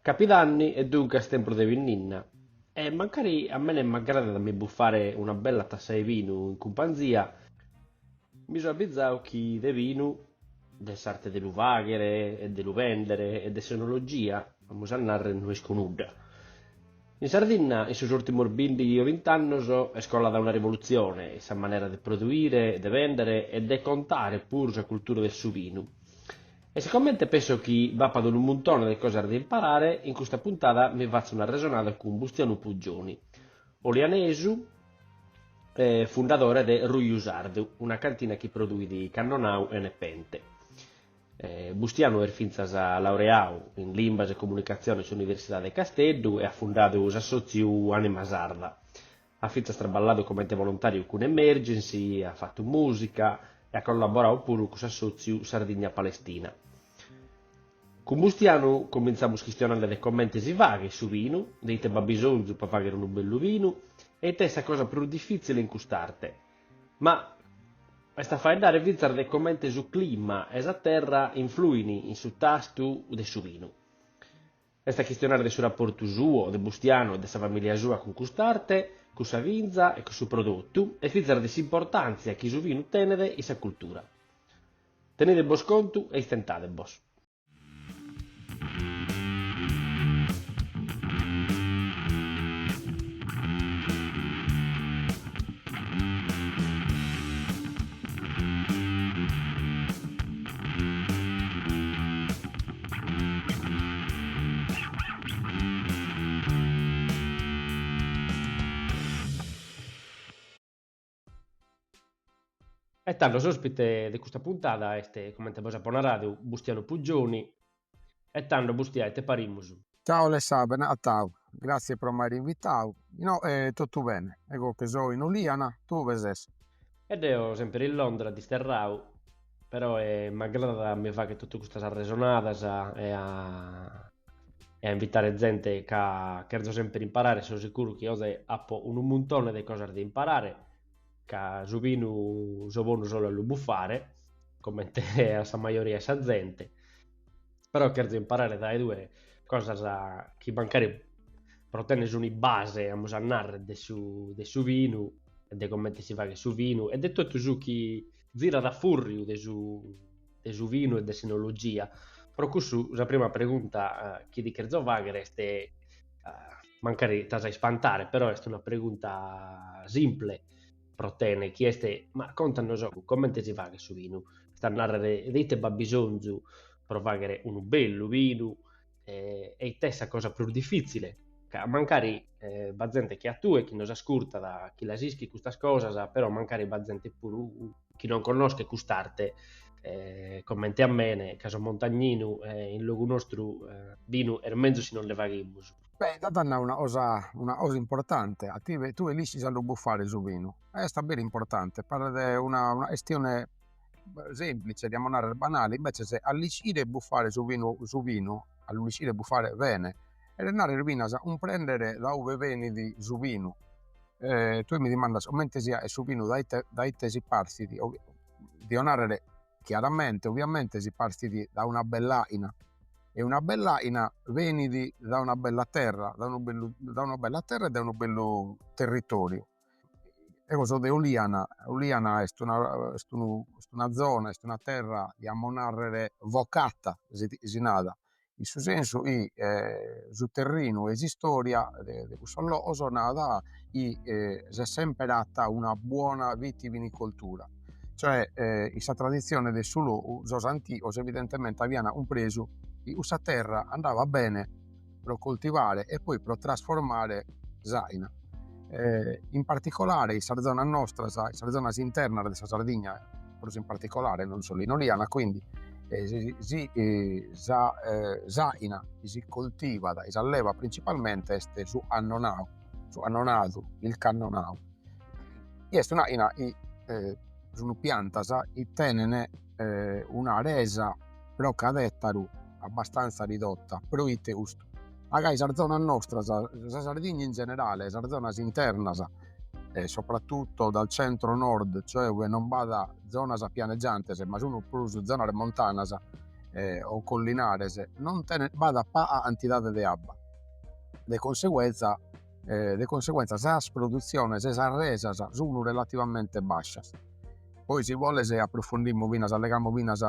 Capidanni e duncas tempus de binnenna, e mancari a mene m'agradat a mi bufare una bella tassa 'e binu in cumpanzia, mi so abbizau chi de binu, de s'arte de lu faghere e de lu bendere e de s'enologia, amus a narrer, no isco nudda. In Sardinna in sos urtimus bìndighi o bint'annos est colada una rivolutzione in sa manera de produire, de bendere e de contare puru sa cultura de su binu. E sicomente penso chi b'apat unu muntone de cosas de imparare, in custa puntada mi fatzo un'arresonada cun Bustianu Pugioni, olianesu e fundadore de Ruju Sardu, una cantina chi produit cannonau e nepente. Bustianu est fintzas laureau in Limbas e Comunicatzione in s'Universidade de Casteddu e at fundadu s'assòtziu Anima Sarda. At fintzas traballadu comente volontàriu cun Emergency, at fatu mùsica e at collaboradu puru cun s'assòtziu Sardigna-Palestina. Cun Bustianu comintzamus chistionende de comente si faghet su binu, de ite b'at bisonzu pro fàghere unu bellu binu e ite est sa cosa prus difìtzile in cust'arte. Amus a faeddare fintzas de comente su clima e sa terra influin in su tastu de su vinu. Est a chistionare de su raportu suo, de Bustianu e de sa famìlia sua cun cust'arte, cun sa vinza e cun su prodotu e fintzas de s'importàntzia chi su vinu tenet in sa cultura. Tenide bos contu e istentade bos. E tando s'ospite de custa puntada est, comente bos apo naradu, Bustianu Pugioni e tando Bustià ite parimus? Ciao Alessà bene acatau, grazie pro m'aere invitau, no tottu bene, ego che so in Oliana, tue ue ses? E deo semper in Londra disterrau, peroe m'agradat a mi fagher tottu custas arresonadas e a invitare zente ca cherzo semper imparare e so sicuru chi oze appo unu muntone de cosas de imparare ca su binu so bonu solu a lu buffare comente a sa majoria 'e sa zente. però cherzo imparare dae tue cosas chi mancari pro tenner una base amus a narrer de su de su vinu e de comente si faghet su vinu e de totu su chi zirat a furriu de su de su vinu e de s'enologia, pro cussu sa prima pregunta chi ti cherzo fagher est mancari t'as a ispantare però est una pregunta simple pro tene chi est. Ma contanos comente si faghet su binu, est a narrer de ite b'at bisonzu pro fagher unu bellu binu e e ite est sa cosa prus difitzile, ca mancari b'at zente che a tue chi nos ascurtat chi las ischit custas cosas, però mancari b'at zente puru chi non connoschet cust'arte e comente a mene ca so montagninu e in logu nostru binu est menzus si non nde faghimus Beh intantu as nau una cosa una cosa importante a ti tue tue l'ischis a lu buffare su binu e est a beru importante paret una una chestione semplice diamo narrer banale invece a l'ischire buffare su binu su binu a l'ischire buffare bene cheret narrer finas cumprendere da ue benit su binu e tue mi dimandas comente si 'aet su binu da ite da ite si partit dio narrer chiaramente, oviamente si partit da una bell'aina e una bell'aina benit da una bella terra, da unu bellu da una bella terra e da unu bellu territoriu. Eo so de Oliana, Oliana est una est unu est una zona est una terra, iamus narrer vocata si si narat in su sensu chi su terrinu e s'istoria de cussos logos narat chi s'est semper atta una buona vitivinicoltura, cioè in sa tradizione de su logu sos antigos evidentemente avian cumpresu chi cussa terra andava bene pro coltivare e poi pro trasformare s'aina in particolare in sas zonas nostras, in sas zonas internas de sa Sardigna prus in particolare non solu in Oliana, quindi eh, si, si eh, sa eh, s'aina chi si coltivat e s'allevat principalmente est su annonau, su annonadu, il cannonau, chi est un'aina chi eh, sunt piantas chi tenent eh, una resa pro cad'ettaru abbastanza ridotta, proite custu? Ca gai sas zonas nostras, sa Sardigna in generale, sas zonas internas e soprattutto dal centro nord, cioè uve non b'at zonas pianegiantes ma sun prus zonas montanas e o collinares, non tenen, b'at paga cantidade de abba, de conseguenza de conseguenza sas produziones, sas resas sun relativamente bascias Poi si boles approfondimmo finas allegamus finas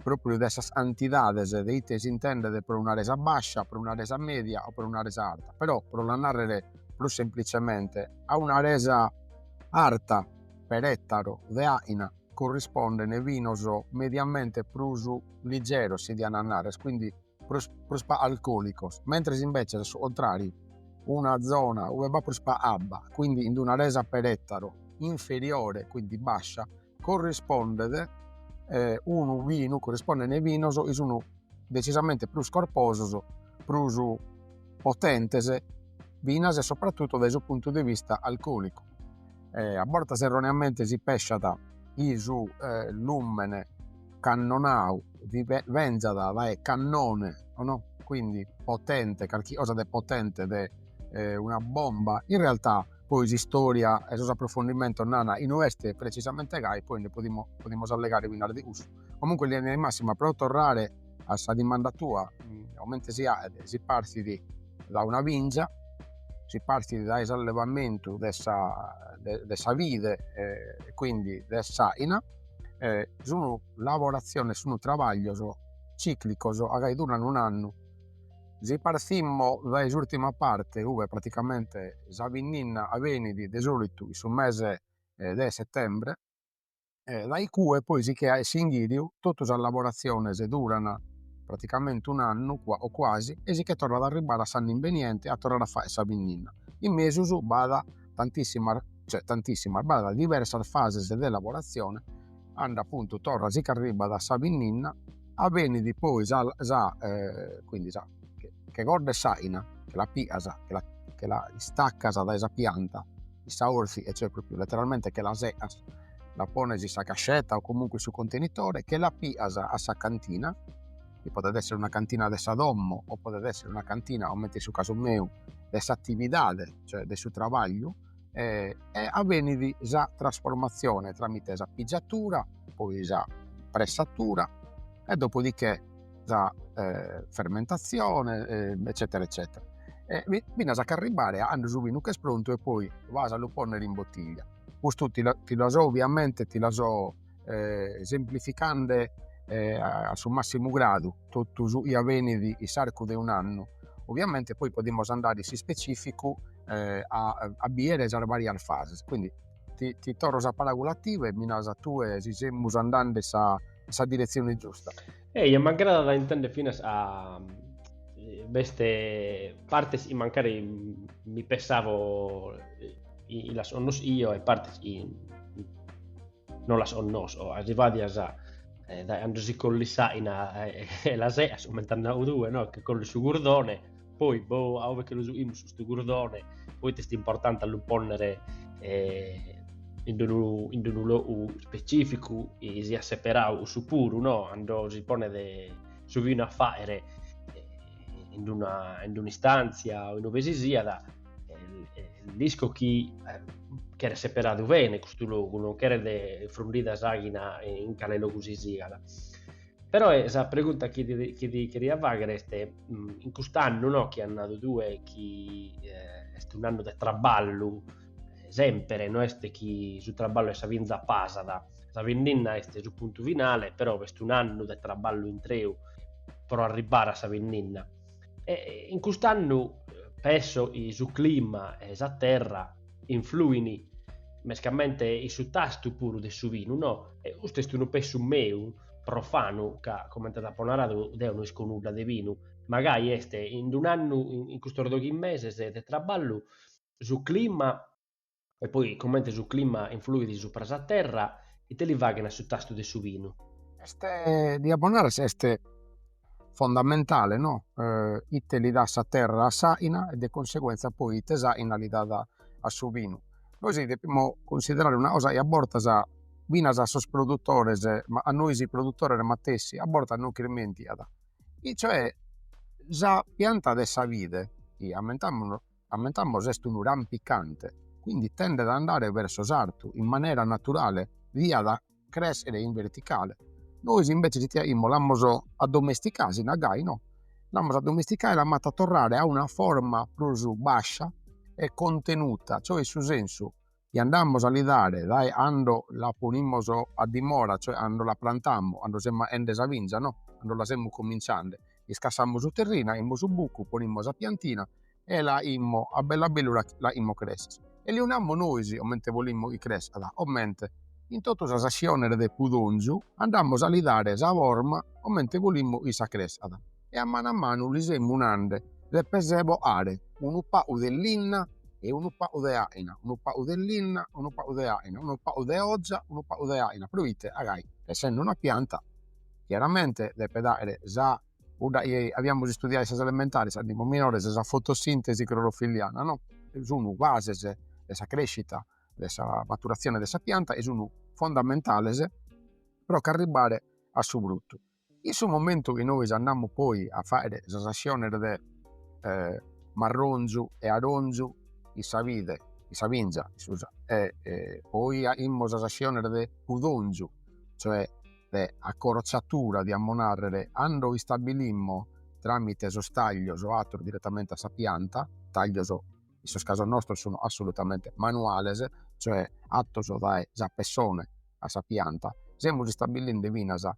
propriu de sas cantidades de ite si intendet pro una resa bascia, pro una resa media o pro una resa arta, però pro la narrer prus semplicemente a una resa arta per ettaro de aina corrisponden binos mediamente prus ligeros si diat a narrer quindi prus prus pa alcòlicos mentres imbetzes a su contràriu una zona ue b'at prus pa abba quindi in una resa per ètaru inferiore quindi bascia corrispondet unu vinu corrispondent vinos chi sun decisamente prus corposos prus potentes finas e sopratutto dae su puntu de vista alcòlicu e a bortas erroneamente si pesciat chi su lùmene cannonau vi benzat dae cannone no quindi potente calchi cosa de potente de eh, una bomba in realtà poi s'istoria e sos approfondimentos nana chi no est precisamente gai poi nde podimo, podimus allegare pinas de cussu comunque linea di massima pro torrare a sa dimanda tua mm, comente si aet si partit dae una bingia si partit dae s'allevamentu de sa, de, de sa vide eh, quindi de s'aina e sunu lavoratziones, sunu trabaglios ciclicos a gai duran un annu. Si partimo dae s'urtima parte ue praticamente sa pinninna avenit de solitu in su mese de settembre e dae icue poi si che faet s'inghiriu tottu sas lavoratziones duran praticamente un annu o quasi e si che torrat a arribbare a s'annu imbeniente a torrare a fagher sa pinninna. In mesus b'at tantissimas cioè tantissimas b'at diversas fases de lavoratzione cando appuntu torra si ch'arribbat a sa pinninna avenit poi sa sa quindi sa recorta 'e s'aina che la pias che la che la istaccas dae sa pianta chin sa 'òrziche cioè propriu letteralmente che la secas la pones in sa cascetta o comunque in su contenitore che la pias a sa cantina chi podet èssere una cantina de sa domo o podet èssere una cantina, comente in su casu meu, de s'atividade, cioè de su trabagliu e e avenit sa trasformatzione tramite sa pigiatura, poi sa pressatura e dopo di che sa fermentatzione eccetera eccetera e finas a ch'arribbare a cando su binu ch'est prontu e poi vas a lu pònnere in botiglia. Custu ti la ti la so ovviamente ti la so eh, semplificande eh, a, su massimu gradu totu su chi avenit in s'arcu de un'annu. Ovviamente poi podimus andare in s'ispecìficu eh, a, a biere sas varias fases. Quindi ti, ti torro sa paràgula a tie mi nas tue si semus andande in sa, sa direzione giusta. Ehi, e m'aggradat a intende finas ca eh, b'est partes chi mancari mi pensavo eh, chi, chi las connoschio e partes chi no las onnosco arrivadias a eh, dae ando si collit s'aina eh, eh, la seas comente as nau tue no? che collis su gurdone poi boh a uve che lu juimus ustu gurdone poi est importante a lu ponnere eh, in unu, in unu logu specificu e siat seperau ussu puru no? ando si ponet su vinu a faere eh, in una, in un'istanzia o in uve si siat deo isco chi eh, cheret seperadu bene custu logu, non cheret frundida s'àghina in cale logu si siat. Però eh, sa pregunta chi ti, chi ti cheria faghere est, mm, in cust'annu no, chi as nadu tue, chi eh, est un annu de traballu, eh, sempre, no est chi su traballu de sa binza pasat, sa binnenna est su puntu finale, però est un annu de traballu intreu pro arribbare a sa binnenna. E in cust'annu pesso chi su clima e sa terra influin mescamente in su tastu puru de su vinu, no? E custu est unu pessu meu, profanu, ca comente t'apo naradu deo no isco nudda de vinu, ma gai est in un'annu, in custos doghi meses de traballu, su clima E poi comente su clima influit supra sa terra, ite li faghen a su tastu de su vinu? Est, t'apo a narrer si est fondamentale no ite li dat sa terra a s'aina e de conseguenza poi ite s'aina li dat a su vinu. Nois depimus cunsiderare una cosa chi a bortas finas a sos produtores, ma a nois produtores matessi a bortas nos ch'ismentiat, e cioè sa pianta de sa vide chi ammentamos Ammentamos est unu rampicante, quindi tendet a andare verso s'artu in manera naturale diat cressere in verticale. Nois inveces ite aimus l'amus addomesticada, si nat gai no, l'amus addomesticada e l'amus fata torrare a una forma prus bascia e contenuta, cioè in su sensu chi andamos a li dare dae a ando la ponimus a dimora, cioè a ando la prantamus, a ando semus aende sa vinza, no, a ando la semus cominciande, iscassamus su terrinu, aimus su bucu, ponimus sa piantina e la aimus a bellu a bellu la la aimus cressere e li namus nois comente bolimus chi crescat, comente in totu sas atziones de pudonzu andamus a li dare sa forma comente bolimus issa crescat. e a manu a manu li semus nande deppes boare unu pagu de linna e unu pagu de aina unu pagu de linna unu pagu de aina unu pagu de oza unu pagu de aina proite a gai essende una pianta chiaramente deppet aere sa cudda chi aviamus istudiadu in sas elementares ando imus minores sa fotosintesi clorofilliana no e sun bases de sa crescita de sa maturazione de sa pianta e sun fondamentales pro ch'arribbare a su fruttu In su momentu chi nois andamus poi a faere sas assiones de marronzu e aronzu in sa bide in sa binza e poi aimus sas assiones de pudonzu cioè de accorzatura diamus narrer cando istabilimmo tramite sos taglios o atteros direttamente a sa pianta taglios in sos casos nostros sun assolutamente manuales, cioè attos dae sa pessone a sa pianta, semus istabiliende finas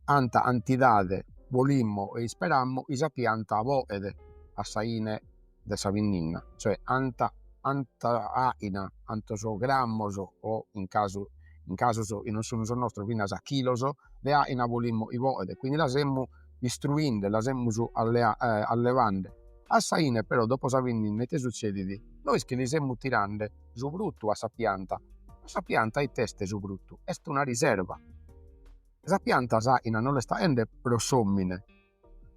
anta antidade bolimmo e isperammo chi sa pianta boet a sa 'ine de sa binninna, cioè anta anta aina, antos grammos o in casu in casos chi non sun sos nostros finas chilos de aina bolimmo chi boet, quindi la semus istruinde la semus allevande a sa ine però dopo sa binninna ite sutzedit nois chi li semus tirande su fruttu a sa pianta ma sa pianta ite est su fruttu est una riserva e sa pianta s'aina no l'est aende pro s'omine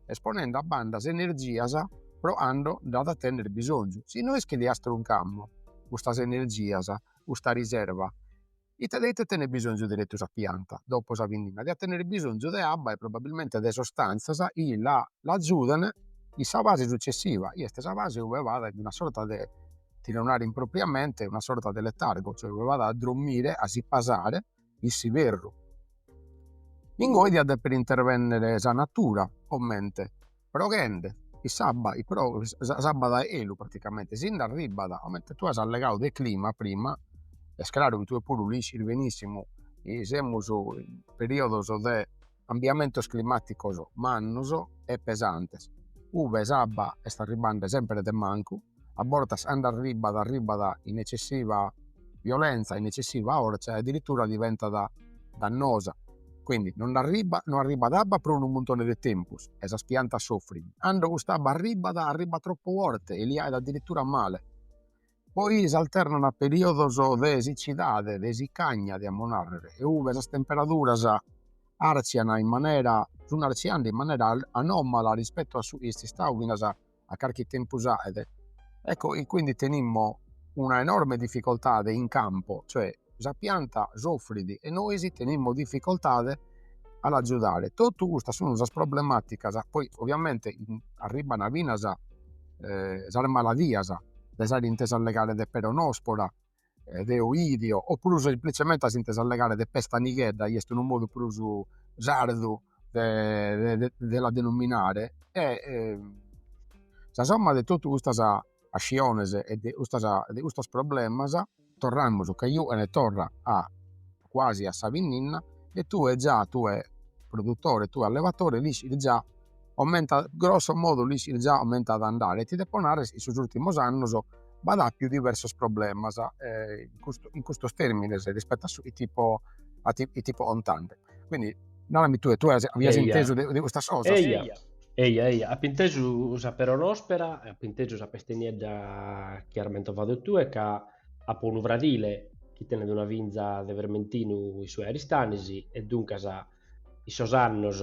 est ponende a banda s'energias pro cando nd'at a tenner bisonzu si nois chi li astruncamus custas energias custa riserva Ite de ite tenet bisonzu deretu sa pianta dopo sa binninna? Diat tenere bisonzu de abba e probabilmente de sostantzas chi la l'agiudene in sa fase successiva, chi est sa fase ue bat a una sorta de, ti deo nare impropriamente, una sorta de letargo, cioè ue bat a drommire, a si pasare in s'iberru. Ingoi diat depere intervennere sa natura comente proghende chi s'abba s'abba da 'elu praticamente si nd'arribbat comente tue as allegadu de clima prima est craru chi tue puru l'iscis benissimu chi semus in periodos de cambiamentos climaticos mannos e pesantes ue s'abba est arribbende sempre de mancu a bortas ando arribat arribat in eccessiva violenza in eccessiva forza e addirittura diventat dannosa quindi non arribat non arribat abba pro unu muntone de tempus e sas piantas soffrin cando cust'abba arribat arribat troppo forte e li aet addirittura male poi s'alternan a periodos de siccidade de siccagna diamo narrer e ue sas temperaduras arzian in manera sun arziende in manera anomala rispetto a su chi est istadu finas a a carchi tempus aet, ecco chi quindi tenimmo una enorme difficoltade in campo, cioè sa pianta soffrit e nois tenimmo difficoltade a l'agiudare, totu custas sun sas problematicas, poi ovviamente arribbana finas sas maladias des aere intesu allegare de peronospora de oidio, oppuru semplicemente as intesu allegare de pesta nighedda, chi est unu modu prus sardu de de la denominare e sa somma de totu custas pasciones e de custas e de custos problemas, torramus ca iue torra a cuasi a sa pinninna e tue già tue produtore tue allevatore l'iscis già comment'at a andare grosso modo l'iscis già comment'at a andare e ti depo narrer in sos ultimos annos b'at appiu diversos problemas in custo in custos termines rispetto a su chi ti fipo a ti chi ti fipo contende quindi narami tue tue avias intesu de de custas cosas. Eja eja eja appo intesu sa peronospera e appo intesu sa peste niedda chi ar mentovadu tue ca Apo unu fradile chi tenet una vinza de vermentinu in sue Aristanis e duncas in sos annos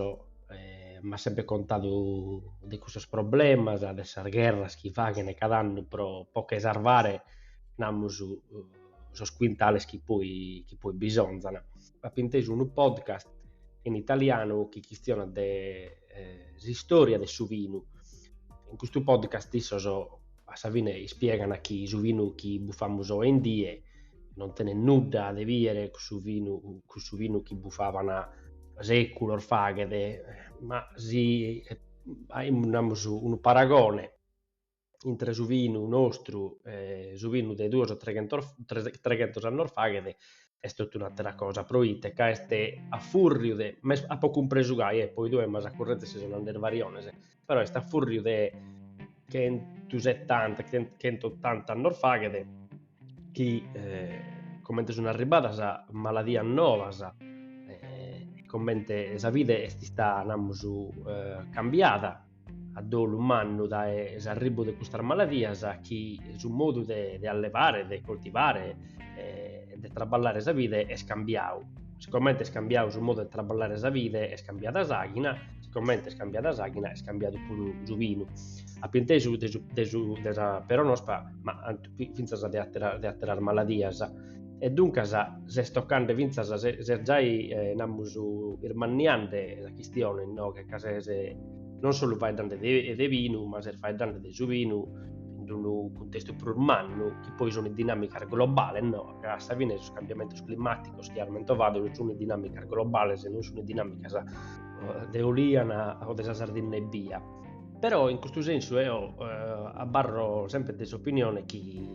m'at semper contadu de custos problemas, de sas gherras chi faghen cada annu pro pro che sarvare, namus, sos quintales chi poi chi poi bisonzan apo intesu unu podcast in italianu chi chistionat de eh, s'istòria de su vinu. In custu podcast issos a sa fine ispiegana chi su vinu chi bufamus oe in die non tenet nudda de bìere cun su vinu, cun su vinu chi bufavan sèculos faghet, ma si aimus, namus, unu paragone, intre su vinu nostru e su vinu de duos o treghentos annos faghet est totu un'àtera cosa, pro ite ca est a fùrriu de, ma apo cumpresu gai, e poi tue mi as a currèzere si sun 'ande fariones, però est a fùrriu de chentu setanta, chentu otanta annos faghet chi comente sun arribbadas maladias novas e comente sa vida est istada, namus, cambiada a dolu mannu dae s'arribu de custas maladias chi su modu de de allevare, de coltivare e de traballare sa bide est cambiadu. Sicomente est cambiadu su modu de traballare sa bide est cambiada s'àghina, sicomente est cambiada s'àghina est cambiadu puru su binu. Ap'intesu de su de su de sa peronospa ma fintzas de atera, de ateras maladias e duncas s'est tocande fintzas, s'est giai, eh, namus, irmanniande sa chistione, no? che ca ses non solu faeddande de, de binu, ma ses faeddande de su binu in unu cuntestu prus mannu, chi poi sunt dinàmicas globales, no? ca a sa fine sos cambiamentos climàticos chi as mentovadu sunt dinàmicas globales, non sunt dinàmicas de Oliana o de sa Sardinna ebbia. Però in custu sensu eo eh, abarro sempre de s'opinione chi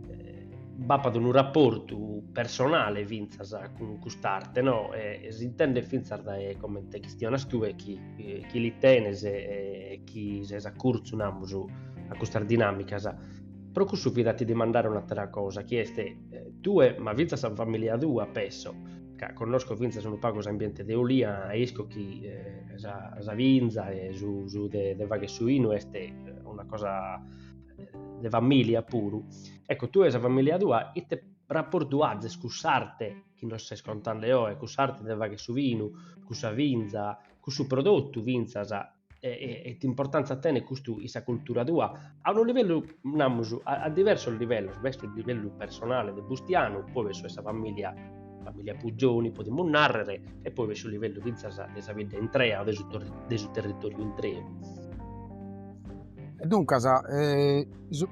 eh, b'apat unu rapportu personale fintzas cun cust'arte, no? E, e s'intendet fintzas dae comente chistionas tue chi, eh, chi li tenes e, e chi ses a curtzu, namus, a custas dinàmicas. Pro cussu fit a ti dimandare un'atera cosa, chi est eh, tue, ma fintzas sa familia tua, pesso, ca connosco fintzas unu pagu s'ambiente de Oliana e isco chi eh, sa, sa vinza e su, su de, de fagher su vinu est eh, una cosa eh, de famìlia puru. Ecco, tue e sa famìlia tua, ite rapportu azes cun s'arte chi nos ses contande oe, cun s'arte de fagher su vinu, cun sa vinza, cun su prodottu fintzas e, e, e it'importantza tenet custu in sa cultura tua, a unu livellu, namus, a, a diversos livellos, b'est su livellu personale de Bustianu, poi b'est su 'e sa familia, familia Pugioni podimus narrer, e poi b'est su livellu fintzas de sa bidda intrea, de su, de su territoriu intreu. E duncas, e, su,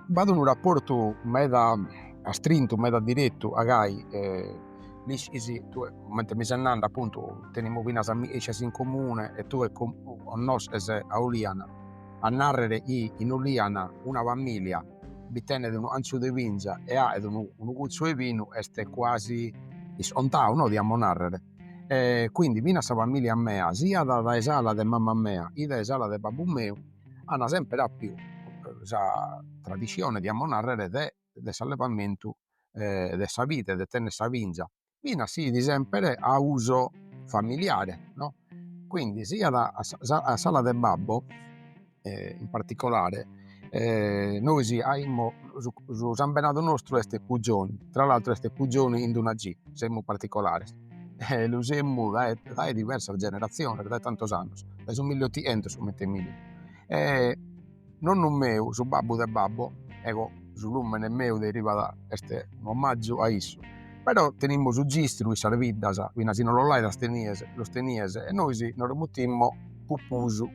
b'at unu rapportu meda astrintu, meda direttu, agai, e L'ischis tue, comente mi ses nande appuntu tenimus finas amichessias in comune e tue connosches Oliana narrer chi in Oliana una familia bi tenet unu 'antzu de vinza e aet unu unu gutzu 'e binu est cuasi iscontau no diamus narrer e quindi finas sa familia mea siat dae s'ala de mamma mea chi dae s'ala de babbu meu an sempre appiu sa tradissione diamus narrer de de s'allevamentu de sa vide e de tenner sa vinza, finas si 'it sempre a uso familiare no, quindi siat a sa a s'ala de babbo in particolare nois aimus su sambenadu nostru est Pugioni, tra l'altro est Pugioni chin d'una G, semus particolares e lu semus dae dae diversas generaziones dae tantos annos, dae su milliotichentos comente minimo Nonnu meu, su babbu de babbo, ecco su lumene meu derivat est un'omaggiu a issu, però tenimus su gistru in sas biddas, finas si no los l'aidas tenies, los tenies e nois no lu mutimmo Pupusu.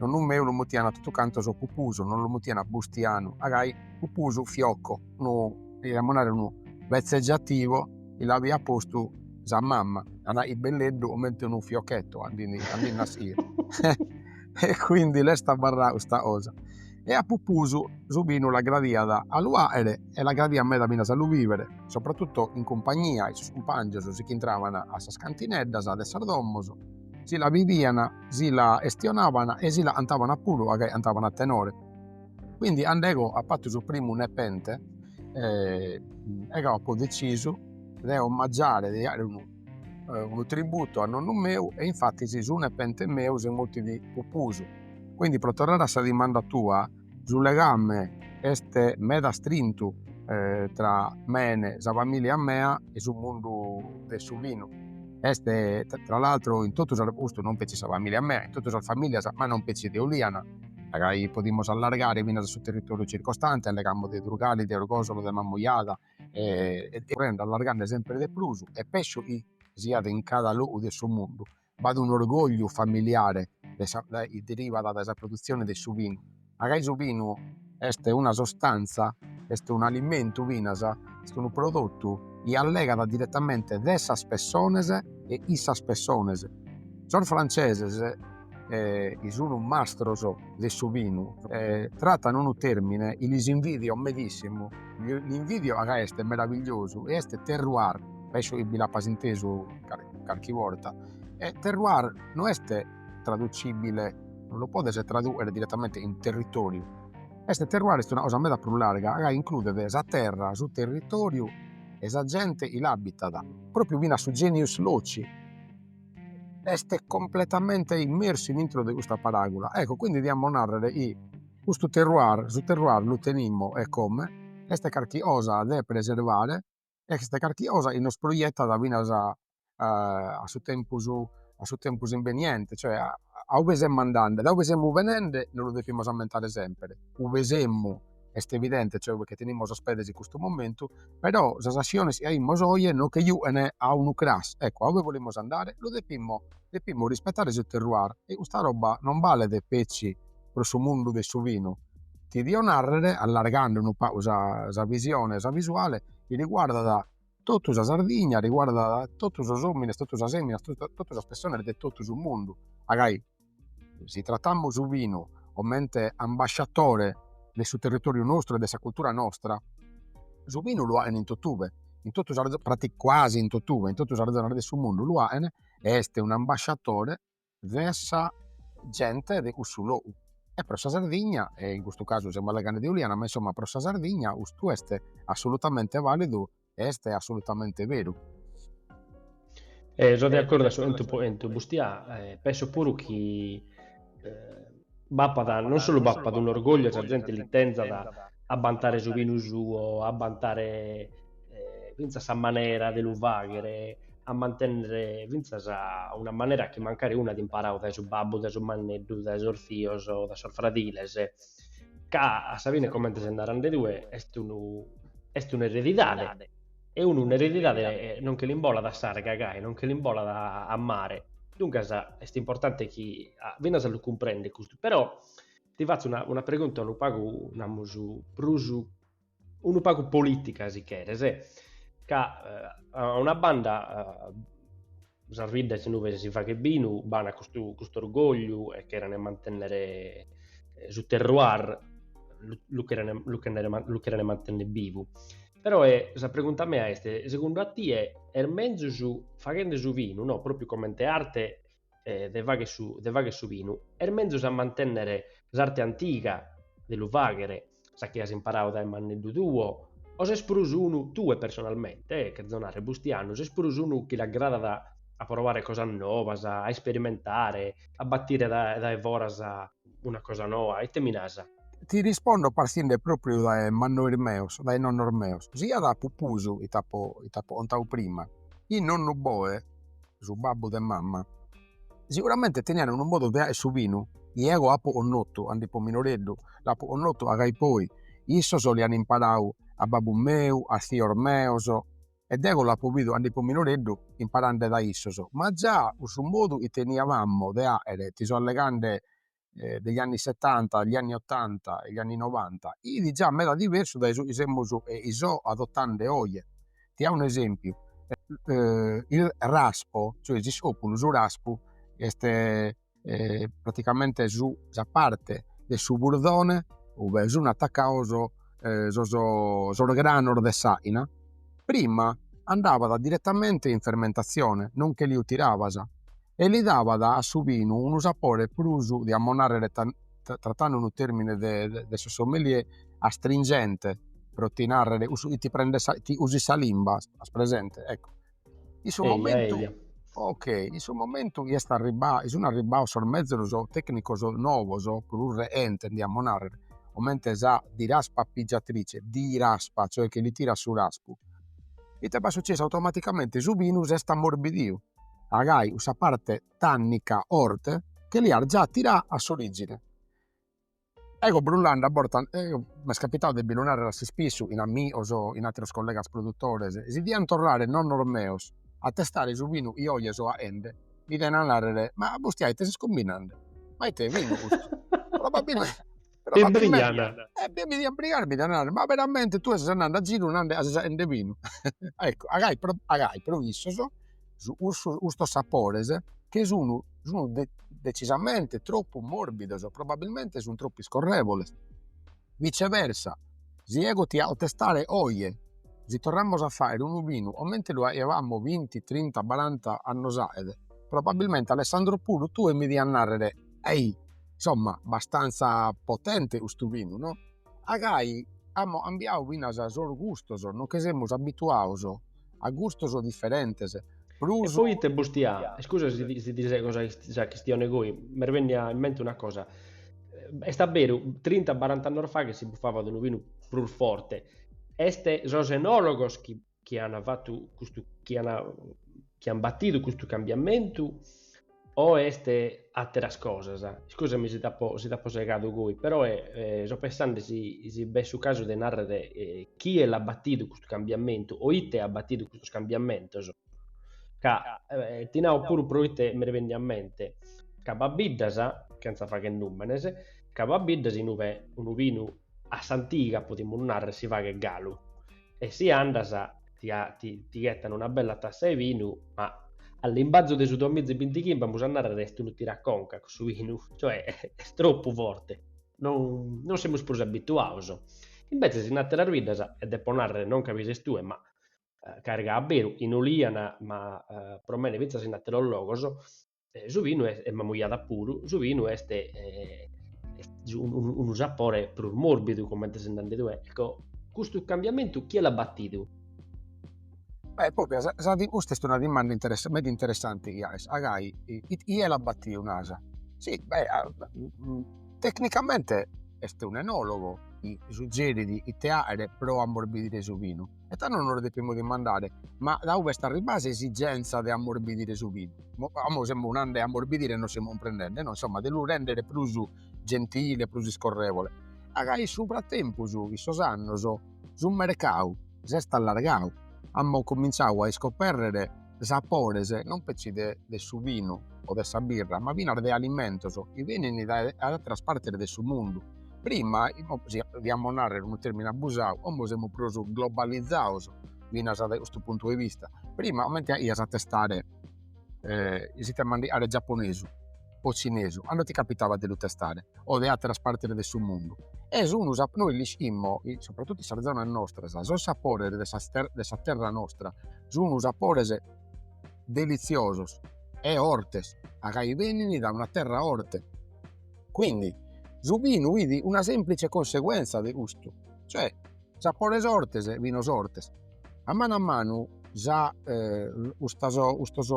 Nonnu meu lu mutiana totu cantos Pupusu, no lu mutiana Bustianu, a gai Pupusu Fiocco, unu, diamus narrer unu vezzeggiativo chi l'avia postu sa mamma, a nai belleddu comente unu fiocchetto a ndi a ndi nassire e quindi l'est abarrada custa cosa e a Pupusu su binu l'agradiat a lu aere e l'agradiat meda finas a lu bivere sopratutto in cumpagnia 'e sos cumpangios si ch'intraban a sas cantineddas de sas domos si la bivian si la 'estionaban e si la 'antaban puru a gai 'antaban a tenore quindi 'and'ego apo fattu su primu nepente ego apo decisu de omaggiare de aere unu unu tributu a nonnu meu e infatis su nepente meu si mutit Pupusu. Quindi pro torrare a sa dimanda tua, su legame est meda astrintu tra mene, sa familia mea e su mundu de su vinu, est tra l'altro in totu sas, custu non petzi sa familia mea, in totu sas familias ma non petzi de Oliana, podimus allargare finas a su territoriu circostante, allegamus de Durgali, de Orgosolo, de Mamujada, currende allargande sempre de prus e pesso chi siat in cada logu de su mundu b'at un orgogliu familiare de sa chi derivat de sa produtzione de su binu ma gai su binu est una sostanza est un'alimentu finas est unu prodotu chi allegat diretamente de sas pessones e in sas pessones sos franceses eh, chi sunu mastros de su binu, eh, tratan unu termine chi lis invidio medissimu, l'invidio ca est meravigliosu e est terroir, penso chi bi l'apas intesu carchi borta, e terroir no est traducibile, non lo podes traduer direttamente in territoriu, est terroir est una cosa meda prus larga ca includet sa terra, su territoriu e sa gente chi l'abitat, propriu finas su genius loci. Est completamente immersu in intro de custa paragula, ecco quindi diamo narrer chi custu terroir, su terroir lu tenimus e come, est carchi osa de preservare, est carchi osa chi nos proiettat finas a a su tempus, a su tempus imbeniente, cioè a ue semus andende, da ue semus benende, nos lu depimus ammentare sempre, ue semus est evidente cioè che tenimus sos pedes in custu momentu, però sas asciones chi aimus oje nos che juchen a unu cras, ecco a ue bolimus andare? Lu depimus depimus rispettare su terroir e custa roba non balet petzi pro su mundu de su vinu, ti dio narrer, allargande unu pagu sa sa visione, sa visuale, chi riguardat totu sa Sardigna, riguardat totu sos omines, totu sas eminas, totu sas pessones de totu su mundu, agai Si tratamus su vinu comente ambasciatore de su territoriu nostru e de sa cultura nostra, su vinu lu aen in totube, in totu sas prati quasi in totube, in totu sas zonas de su mundu lu aen e est un'ambasciatore de sa gente de cussu logu e pro sa Sardigna e in custu casu semus allegande de Uliana, ma insomma pro sa Sardigna custu est assolutamente validu Est assolutamente beru. So de acordu su 'entu po 'entu. Bustià, penso puru chi b'apat, non solu b'apat un'orgogliu e sa zente li tenzat a bantare su binu suo, a bantare fintzas sa manera de lu faghere, a mantennere fintzas una manera chi mancari unu at imparadu dae su babbu, dae su manneddu, dae sos zios, dae sos fradiles. ca a sa fine comente ses narende tue est unu est un'eredidade e unu un'eredidade eh, non che l'imbolat a s'arga gai, non che l'imbolat a a mare, duncas est importante chi finas a lu cumprendere custu, però ti fatzo una una pregunta unu pagu namus prus unu pagu polìtica si cheres, ca a una banda sas biddas inue si faghet binu b'an custu orgògliu e cheren mantènnere su terroir, lu cheren lu cheren mantènnere bivu, però sa pregunta mea est, segundu a tie est mezus faghende su binu, no, pròpiu comente arte eh, de fagher su, de fagher su binu, est menzus a mantènnere s'arte antiga de lu faghere, sa chi as imparadu dae manneddu tuo, o ses prus unu, tue personalmente, eh, cherzo narrer, Bustianu, ses prus unu chi l'agradat a provare cosas nobas, a isperimentare, a batire dae foras una cosa noa, ite mi nasa? Ti rispondo partinde propriu dae mannois meus, dae nonnos meus, siat a pupusu chi t'apo chi t'apo contau prima, in nonnu Boe, su babbu de mamma, seguramente teniat unu modu de aer su binu, chi eo apo connotu ande ipo minoreddu, l'apo connotu agai poi, issos l'an imparau a babbu meu, a zios meus e deo l'apo bidu ande ipo minoreddu imparande da issos, ma già cussu modu chi teniavamo de aere, ti so allegande degli anni settanta, gli anni ottanta e gli anni novanta, it già meda diversu dae su chi semus e chi so adottande oje. Ti ao un'esempiu, il raspo, cioè s'iscopulu, su raspu est e praticamente su sa parte de su burdone ue sun attaccados e sos sos granos de s'aina prima andabat direttamente in fermentazione non che lu tirabas e li dabat a su binu unu sapore prus diamus narrer trattande unu termine de de sos sommelier astringente pro ti narrer cussu chi ti prendet sa chi usit sa limba as presente ecco In su momentu... Eia, eia. Ok, in su momentu chi est arribau, chi sun arribaus sos mezus tecnicos novos, prus reentes diamus narrer, comente sa diraspapigiatrice, diraspa, cioè chi li tirat su raspu, ite b'at sucessu, automaticamente su binu s'est ammorbidiu, agai cussa parte tannica 'orte, che l'iat già tirà a s'origine. Ego brullande a bortas, eo m'est capitau de bi lu narrer a s'ispissu in amigos o in atteros collegas produttores, si diant torrare nonnos meos a testare su vinu chi oje so aende, mi diana narrer, ma a Bustià ite ses combinande? Ma ite vinu custu? Probabilmente probabilmente e bi mi dian brigare e mi dian narrer, ma veramente tue ses andende a ziru nande ca ses aende vinu? Ecco agai pro agai pro issos cussu, custos sapores che sun sun decisamente troppu morbidos, probabilmente sun troppu iscorrevoles, viceversa si ego ti ao testare oje si torramus a fagher unu vinu comente lu aiavamo vinti trinta baranta annos aet probabilmente Alessandro puru tue mi dias narrer ehi insomma abbastanza potente custu vinu no A gai amus cambiau finas sos gustos, non che semus abituados a gustos diferentes. Prus. E poi iscusa, iscusa si ti ti sego sa sa chistione goi, m'est bennia in mente una cosa, est a beru, trinta barant'annos fa che si bufavat unu binu prus forte, est sos enologos chi chi an fattu custu chi an chi an battidu custu cambiamentu o est atteras cosas iscusa mi si t'apo si t'apo segadu goi però so pensande si si b'est su casu de narrer chie l'at battidu custu cambiamentu o ite at battidu custos cambiamentos ca ti nau puru pro ite mi revenit a mente ca b'at biddas chentza fagher numenes ca b'at biddas inue unu binu a s'antiga potimus narrer si faghet galu e si andas ti ghetan una bella tassa 'e binu, ma a limbazu de su duamiza e bintichimbe amus a narrer est unu tiraconca cussu binu, cioè est troppu forte, non semus prus abituados. Imbetzes in ateras biddas, e depo narrer non ca bi ses tue, ma ca gai a beru, in Oliana ma pro mene fintzas in ateros logos, eh, su vinu est, e Mamujada puru, su vinu est, eh, est unu, unu sapore prus morbidu, comente ses nande tue. Ecco, custu cambiamentu chie l'at batidu? Beh, propriu, sa, sa, custa est una dimanda interess meda interessante chi aes. A gai, chie l'at batidu, naras? Si, beh, tecnicamente est un'enologo chi suggerit ite aere pro ammorbidire su vinu. e tando nos depimus dimandare, ma dae ube est arribbà s'esigenza de ammorbidire su vinu? Como semus nande ammorbidire e nos semus cumprendende, no insomma de lu rèndere prus gentile, prus iscorrevole, a gai in su fratempus in sos annos su mercadu s'est allargau, amus comintziau a iscopèrrere Sapores non petzi de de su vinu o de sa birra, ma finas de alimentos chi benin dae atteras partes de su mundu. Prima, si podiamus narrer unu termine abusau, como semus prus globalizados finas dae custu puntu de vista, prima comente aias a testare, it'e mandigare giapponesu o cinesu a no ti capitaba de lu testare o de atteras partes de su mundu e sun sa nois l'ischimos soprattutto in sas zonas nostras sos sapores de sas ter de sa terra nostra sun sapores deliziosos e 'ortes a gai benini da una terra 'orte quindi su vinu fit una semplice conseguenza de custu cioè sapores 'ortes e vinos 'ortes A manu a manu sa custas custos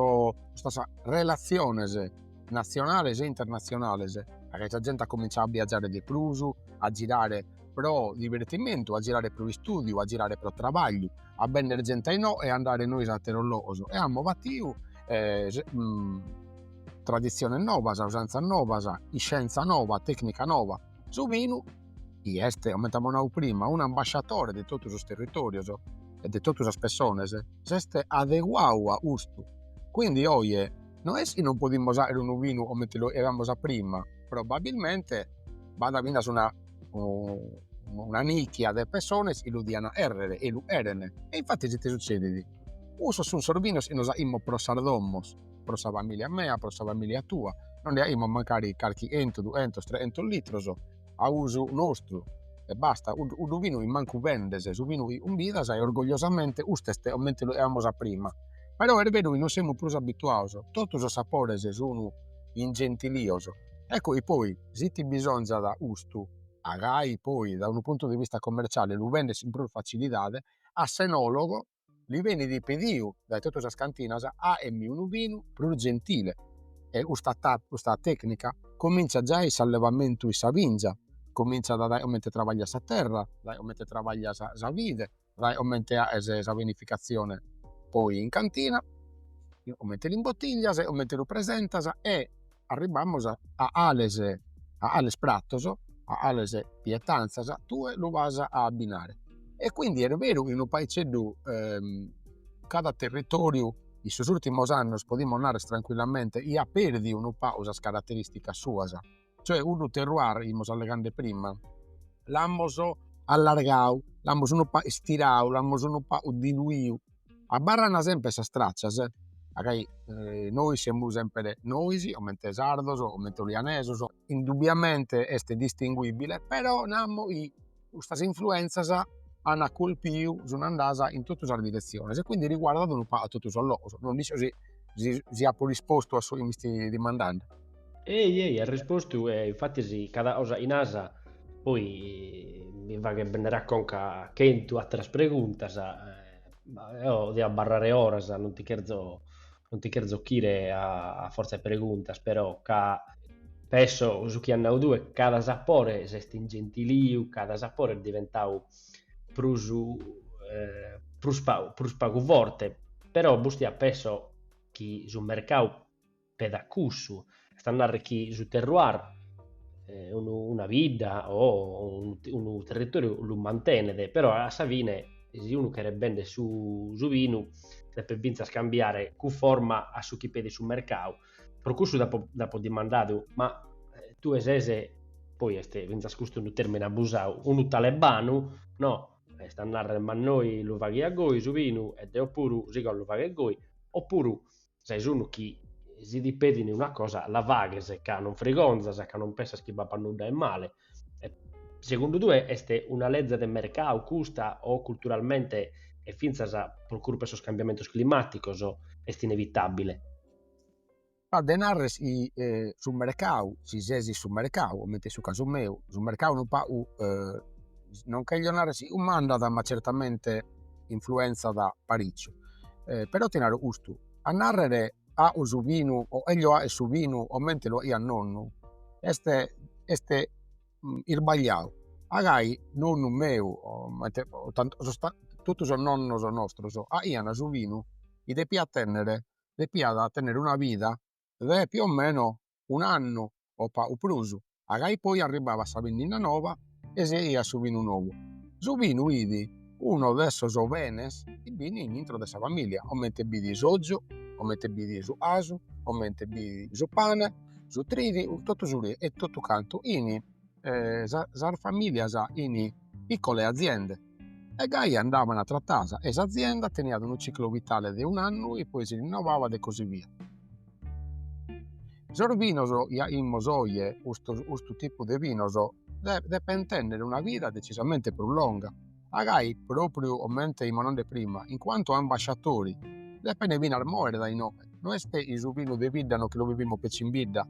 custas relatziones natzionales e internatzionales e sa zente at comintzau a biagiare de prus, a girare pro divertimentu, a girare pro istùdiu, a girare pro trabagliu, a benner zente a inoghe e a andare nois in ateros logos e amus fatiu traditziones nobas, usantzas nobas, iscienza noba, tecnica noba Su binu chi est, comente apo nau prima, un'ambasciatore de totu sos territorios e de totu sas pessones, s'est adeguadu a custu, quindi oje no est chi non podimus aer unu binu comente lu 'eamus a prima, probabilmente b'at finas una una nicchia de pessones chi lu dian 'errer e lu 'eren e infattis ite suzzedit, cussos sun sos binos chi nos 'aimus pro sas domos pro sa famìlia mea, pro sa famìlia tua, nos nde 'aimus mancari carchi 'entu, duentos, trehentos litros a usu nostru e basta, cuddu binu chi mancu bendes, su binu chi cumbidas e orgogliosamente custu est comente lu 'eamus a prima, però est beru chi non semus prus abituados, totu sos sapores sun ingentilios, ecco chi poi si ti bisonzat custu a gai poi dae unu puntu de vista commerciale lu bendes in prus facilidade a s'enologo li benit pediu dae totu sas cantinas 'aemi unu binu prus gentile e custa custa tecnica cominzat giai in s'allevamentu 'e sa binza cominzat dae comente trabagliat sa terra dae comente trabagliat sa sa vide dae comente 'aes sa vinificazione poi in cantina comente l'imbotiglias comente lu presentas e arribamus a 'ales a 'ales pratos a 'ales pietanzas tue lu as a abbinare e quindi est beru chi unu paizzeddu cada territoriu in sos urtimos annos podimus narrer tranquillamente iat perdiu unu pagu sas carateristicas suas cioè cuddu terroir chi 'imus allegande prima l'amus allargau l'amus unu pagu istirau l'amus unu pagu diluiu Abarrana sempre sas tracias a gai nois semus sempre nois comente sardos comente olianesos indubbiamente est distinguibile però namus chi custas influenzas an colpiu sun andadas in totu sas direziones e quindi riguardat unu pagu a totu sos logos non nd'isco si si si apo rispostu a su chi m'isti dimandande Ei, ei, as rispostu e infatis cada cosa chi nasa poi mi faghet bennere a conca chentu atteras preguntas, eo dio abbarrare oras non ti cherzo non ti cherzo ochire a a forza 'e preguntas però ca pesso su chi as nau tue cada sapore s'est ingentiliu, cada sapore est diventau prus prus pagu forte però pustis pesso chi su mercau pedat cussu. Est a narrer chi su terroir una bidda o unu territoriu lu mantenet, però a sa fine si unu cheret bender su su binu depet finzas cambiare cunforma a su chi pedit su mercau. Pro cussu t'apo t'apo dimandadu, ma tue ses, poi est finzas custu unu termine abusau, unu talebanu, no, est a narrer mannoi lu faghiat goi su binu e deo puru sigo a lu fagher goi, o puru Ses unu chi, si ti pedin una cosa, la faghes, ca non frigonzas, ca non pensas chi b'apat nudda 'e male. Segundu tue est una leze de mercadu custa o culturalmente e fintzas pro curpa 'e sos cambiamentos climàticos est inevitàbile? B'at de narrer chi su mercadu, si ses in su mercadu, comente est su casu meu, su mercadu unu pagu, non cherzo narrer chi cumandat, ma certamente influenzat paritzu e però ti naro custu, a narrere aho su vinu o cherzo fagher su vinu comente lu aiat nonnu est est isbagliadu, agai nonnu meu comente totu sos nonnos nostros aian su vinu chi depiat tenner depiat tenner una vida de più o meno un'annu o pagu prus, a ca ippoi arribbavat sa binnenna noba e si aiat su binu nou. Su binu fit unu de sos benes chi fint in intro de sa familia, comente fit s'ozu, comente fit su casu, comente fit su pane, su trigu, totu su e totu cantu in sas familias in piccole aziende e gai andavan trattadas e s'azienda teniat unu ciclo vitale de un'annu e poi si rinnovabat e così via. Sos vinos chi aimus oje, custu custu tipu de vinos de depen tenner una vida decisamente prus longa, a gai propriu comente fimus nande prima in quantu a ambasciatori depene finas moere dae inoghe, no est su vinu de bidda no chi lu bivimus petzi in bidda.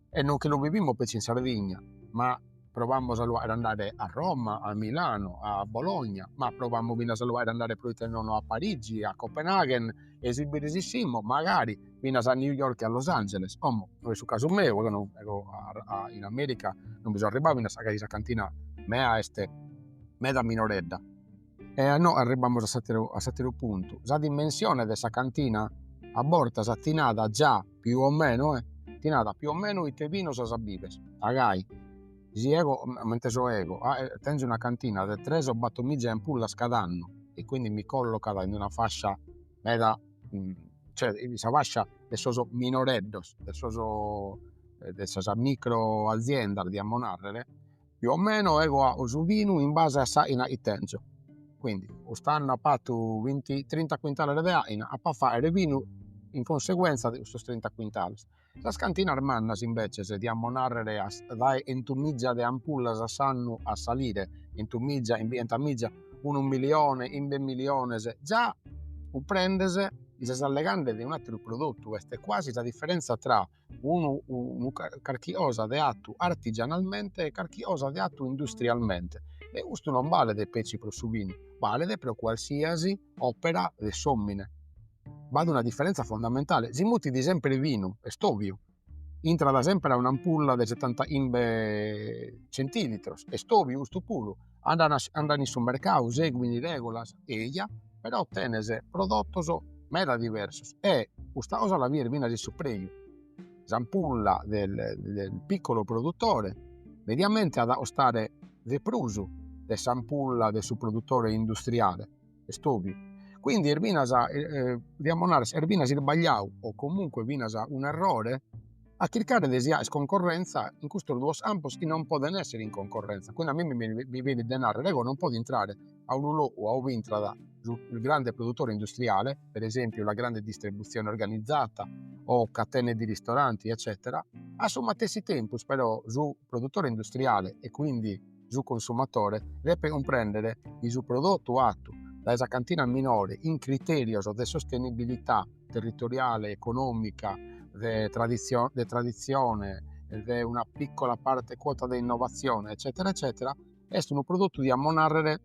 e non chi lu bivimus petzi in Sardigna, ma provamus a lu faer andare a Roma, a Milano, a Bologna, ma provamus finas a lu faer andare proite nono a Parigi, a Copenaghen e si bi resissimus magari finas a New York e a Los Angeles, como no est su casu meu ca deu eo in America non bi so arribau finas ca sa cantina mea est meda minoredda. E a no arribamus a s'atteru, a s'atteru puntu, sa dimensione de sa cantina a bortas ti nat già più o meno eh, ti nat più o meno ite vinos as a biver, a gai si ego, m'inte so ego tenzo una cantina de tres o battor miza ampullas cada annu e quindi mi collocat in una fascia meda cioè in sa fascia de sos minoreddos, de sos de sas micro aziendas diamo narrer più o meno ego aho su vinu in base a s'aina chi tenzo quindi cust'anno apo fatu vinti trinta quintales de aina apo a fagher vinu in conseguenza de custos trinta quintales sas cantinas mannas imbeces diamo narrer a dae 'entu miza de ampullas a s'annu a salire 'entu miza chimbighenta miza unu milione chimbe miliones già cumprendhes chi ses allegandhe de un'atteru prodottu est quasi sa differenza tra unu unu carchi 'osa de 'atu artigianalmente e carchi 'osa de 'atu industrialmente e custu non balet petzi pro su binu, balet pro qualsiasi opera de s'omine. B'at una differenza fondamentale, si mutit sempre binu, est oviu, intrat sempre a un'ampulla de setanta'imbe centilitros, est oviu custu puru andant in su mercadu seguin is regulas eja però tenes prodotos meda diversos e custa cosa la bides finas in su preju, s'ampulla del piccolo produttore mediamente at a costare de prus de s'ampulla de su produttore industriale est oviu. Quindi est finas podiamus nare est finas isbagliadu o comunque finas un'errore a chircare de si 'aer concorrenza in custos duos campos chi non podent esser in concorrenza, quindi a mime mi benit de narrer ego non podo intrare a unu logu a uve intrat su grande produttore industriale, per esempiu la grande distribuzione organizzata o catene di ristoranti eccetera, a su matessi tempus però su produttore industriale e quindi su consumatore depet cumprèndere chi su prodotu fatu dae sa cantina minore in critèrios de sostenibilità territoriale, econòmica, de traditzione, de una pìcola parte cuota de innovatzione eccètera eccètera est unu prodotu diamus nàrrere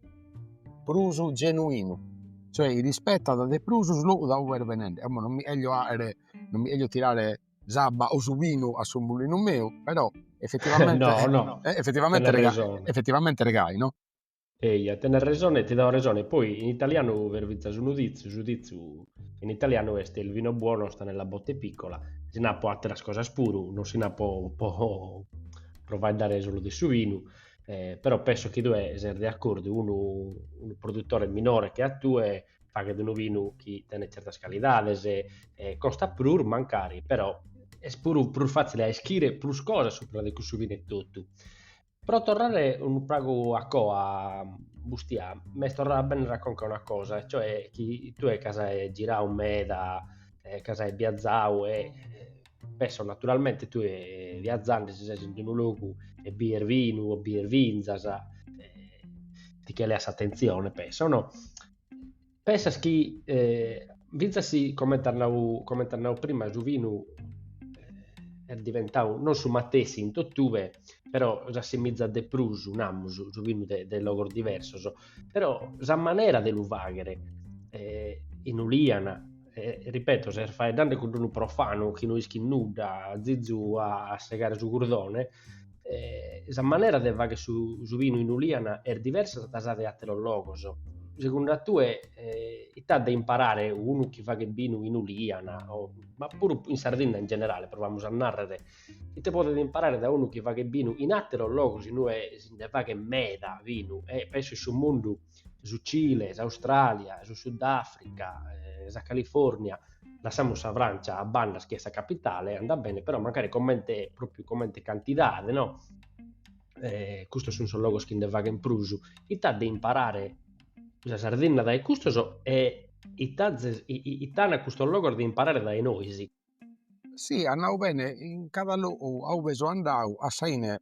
prus genuinu, cioè rispetat de prus su logu dae ue est benende, non mi 'elio tirare s'abba o su binu a su mulinu meu, però effettivamente no, no. Eh, effettivamente, rega, effettivamente regai, no? Eia, tenes resone, ti dao resone. Poi in italianu b'est finas unu ditzu, su ditzu in italianu est il vino buono sta nella botte piccola. Si na po atteras cosas puru, non si na po, po faeddare solo de su vinu, eh, però penso chi tue ses de accordu, unu, unu produttore minore che a tue faghet unu vinu chi tenet tzertas calidades, e costat prus mancari, però est puru prus fàtzile a ischire prus cosas subra de cussu vinu etotu. Pro torrare unu pagu a coa, Bustia, m'est torrada a bennere a conca una cosa, e cioè chi tue ca ses giradu meda, ca ses biazadu e Penso naturalmente tue viazzande si ses in un logu e bies vinu o bies vinzas eh, ti che leas attenzione, penso, no? Pensas chi eh, finzas si, comente as nau, comente as nau prima, su vinu eh, est diventau non su matessi in tottuve, però s'assimizzat de prus, namus, su vinu de, de logos diversos, Però sa manera de lu faghere eh, in Uliana, eh, ripeto, ses faeddande cun unu profanu chi no ischit nudda, zizu a, a segare su curdone, eh, sa manera de faghere su, su vinu in Uliana est diversa da sa de ateros logos. Segundu a tue, eh, ite at de imparare unu chi faghet vinu in Uliana, o, ma puru in Sardinna in generale, provamus a narrere, Ite podet imparare da unu chi faghet binu in àteros logos in ue si nde faghet meda binu e penso in su mundu, su Cile, s'Austràlia, su Sudàfrica, sa Califòrnia, lassamus sa Frància a banda chi est sa capitale, andat bene, però mancari comente pròpiu comente cantidade no e custos sun sos logos chi nde faghen prus, ite at de imparare sa Sardinna dae custos e ite at ite an custos logos de imparare dae nois. Si as nau bene in cada logu a ube so andadu a sa 'ine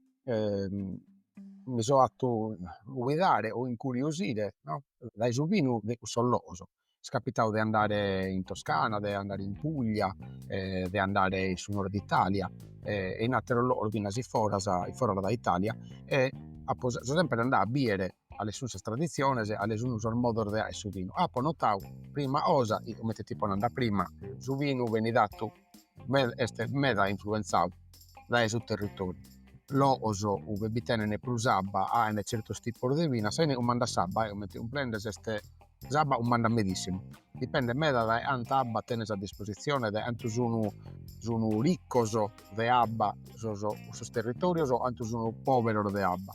mi so atu guidare o incuriosire no dae su binu de cussos logos, m'est capitadu de andare in Toscana, de andare in Puglia e de andare in su nord Italia e in atteros logos finas foras foras dae Italia e apo sempre andadu a biere ales sun sas traditziones, ales sun sos modos de aer su vinu. Apo notadu prima 'osa chi comente ti ipo nande prima, su vinu benit atu meda est meda influenzadu dae su territoriu. Logos ue bi tenent prus abba aent certos tipos de vinu, a sa 'ine cumandat s'abba, comente cumprendes est s'abba cumandat medissimu, dipendet meda dae anta abba tenes a dispositzione, dae antu sun sun riccos de abba sos cussos territorios o antu sun poberos de abba.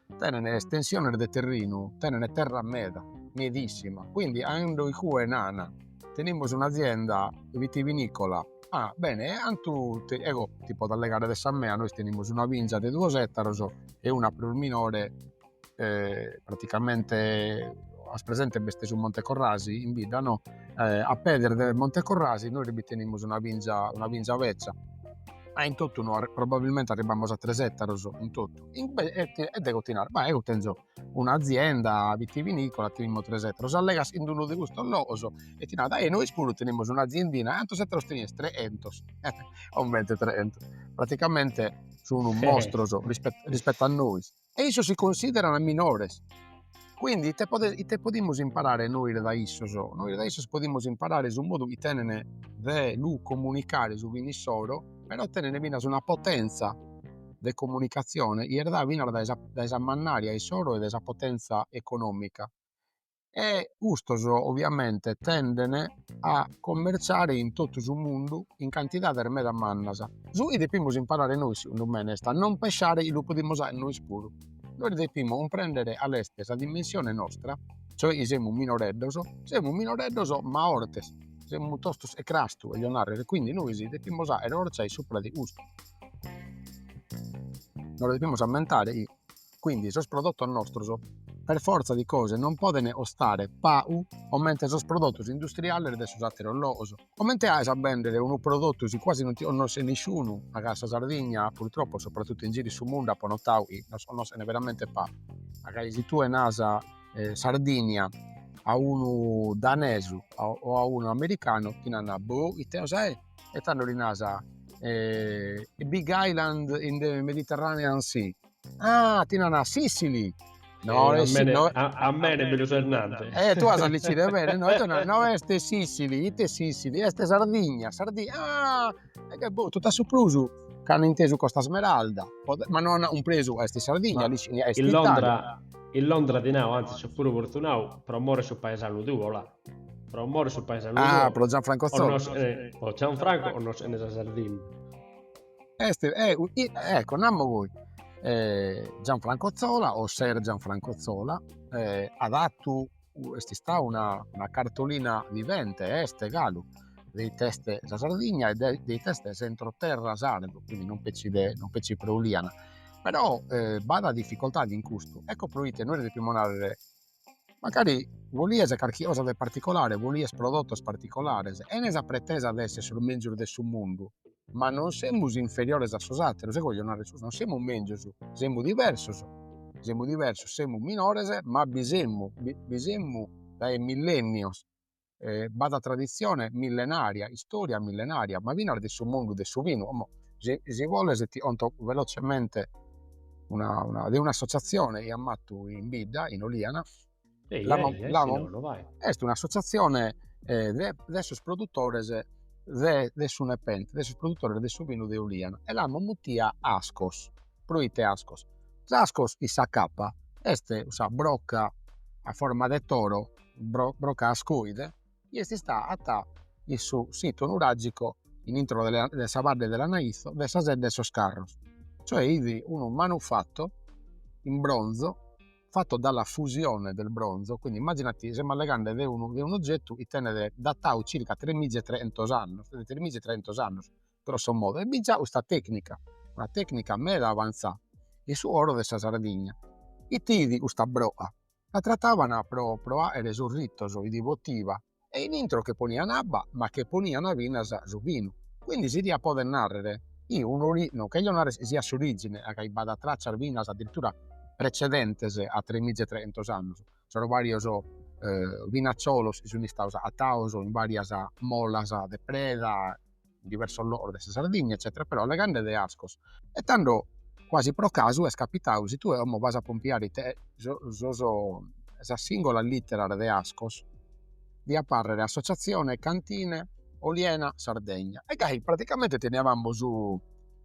Tenent estensiones de terrinu, tenent terra meda, medissima, quindi ando igue nana, tenimus un'azienda vitivinicola, ah bene e antu ti ego ti podo allegare de sa mea, nois tenimus una binza de duos ettaros e una prus minore praticamente as presente b'est su Monte Corrasi in bidda no, a pedes de Monte Corrasi nois bi tenimus una binza una binza betza, ma in totu no probabilmente arribbamus a tres ettaros in totu e dego ti naro ma ego tenzo un'azienda vitivinicola tenimus tres ettaros allegas in unu de custos logos e ti nat ah nois puru tenimus un'aziendina e antos ettaros tenies tres entos comente tres entos praticamente sun mostros rispetto a nois e issos si consideran minores Quindi ite, pode, ite podimus imparare nois da issos? Nois da issos podimus imparare su modu chi tenent de lu comunicare su vinu issoro, però tenent finas una potenza de comunicatzione chi est dada finas dae sa dae sa mannària issoro e dae sa potenza economica e custos ovviamente tenden a commerciare in totu su mundu in cantidades meda mannas. Su chi depimus imparare nois segundu mene est a non pessare, lu podimus aer nois puru Nois depimus cumprèndere 'ale est sa dimensione nostra, cioè chi semus minoreddos, semus minoreddos ma 'ortes, semus tostos 'e crastu, 'olio narrer, e quindi nois depimus 'àere 'orcia supra de custu. Nos depimus ammentare chi quindi sos prodottos nostros per fortza di cose non podent 'ostare pagu comente sos prodottos industriales de sos àteros logos, Comente aes a bèndere unu prodottu si cuasi non ti connoscet nisciunu, ma ca a sa Sardigna, purtroppo, sopratuttu in giru in su mundu apo notadu chi nos connoschent veramente pagu. Ma ca si tue naras Sardigna a unu danesu o a unu americanu ti nant boh ite cosa est e tando li naras big island in the mediterranean sea Ah, ti nana Sicily. No, eh, est, no, a, a mene mi lu ses nante. Eh, tu as dicito, e bene, no, tu nana, no est Sicily, ite Sicily, est Sardigna, Sardigna, ah, e che boh, tot'a su prus ch'ana intesu Costa Smeralda, ma no ana cumpresu, est Sardigna, ma, est in Londra, in Londra ti nau, anzi, so puru fortunau, pro more su paesanu tuo, là, pro more su paesanu ah, tuo. Ah, pro Gianfranco Zola. Eh, pro Gianfranco 'onnos'ene sa Sardigna. Est ecco namus goi Gianfranco Zola o Sir Gianfranco Zola at 'atu est istau una una cartolina vivente e est galu de ite est sa Sardigna e de ite est s'entroterra sardu, quindi non petzi de non petzi pro Uliana però b'at difficoltade in custu, ecco pro ite nois depimus narrer Magari bolias carchi cosa de particolare, bolias prodotos particolares, 'ene sa pretesa de esser sos mèngius de su mundu, ma non semus inferiores a sos àteros, ego 'olio narrer custu, non semus mèngius, semus diversos, semus diversos, semus minores, ma bi semus, bi semus dae millènnios, b'at traditzione millenaria, istòria millenaria, ma finas de su mundu de su vinu, como si si boles ti 'onto velozzemente una una de un'associazione 'i amus 'attu in bidda in Oliana est un'associazione de de sos produttores de de su Nepente, de sos produttores de su vinu de Oliana e l'amus muttia Askos, proite Askos, s'Askos 'in sa kappa est sa brocca a forma de toro Brocca ascoide, chi est istada a'attà in su situ nuragico in intro de sa badde de Lanaitho de sa Sedda 'e sos Carros, cioè 'idi unu manufatto in bronzo fatto dalla fusione del bronzo, quindi immaginati semus allegande de unu de un'oggettu chi benit datau circa tremiza e tre'entos annos, de tremiza e tre'entos annos grosso modo, e b'iat già 'usta tecnica, una tecnica meda avanzada in su 'oro de sa Sardigna, ite 'idi custa broca la trattavan pro pro aere sos ritos idi potiva e in intro che ponian abba ma che ponian finas su vinu quindi si diat poder narrere chi un'ori non cheglio narrer siat s'origine a chi b'at traccias finas addirittura precedentes a tres miza e trehentos annos sos varios vinazzolos chi sun istados agattados in varias molas de preda in diversos logos de sa Sardigna eccètera però allegande de ascos e tando quasi pro casu est capitadu si tue como vas a pompiare ite sos sas singolas litteras de ascos diat apparrere associazione cantine oliena Sardegna e gai praticamente teniavamo su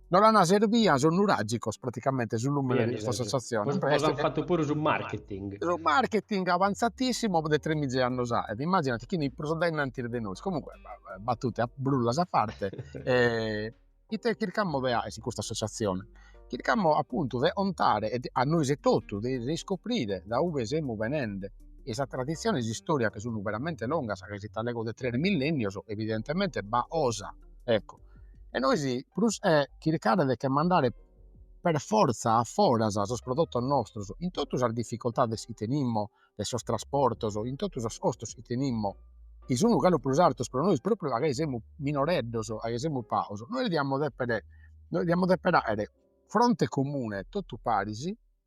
Nos l'ana serbiu sos nuragicos praticamente su lumene de custa associazione. Poi an fattu puru su marketing. Su marketing avanzatissimo de tremiza annos aet immaginati chi ini prus dainnantis de nois. Comunque battute e brullas a parte e ite chircammo de aer in custa associazione? Chircammo appunto de ontare e a nois etotu de riscoprire da ube semu benende e sa tradizione e s'istoria chi sunu veramente longas ca si t'allego de tres millennios evidentemente b'at osa ecco e nois prus de chircare de che mandare per forza a foras sos prodottos nostros in tottu sas difficoltades chi tenimmo de sos trasportos in tottu sos costos chi tenimmo chi sun galu prus artos pro nois propriu a gai semus minoreddos a gai semus paos nois diamo depere nois diamo depere aere fronte comune tottu paris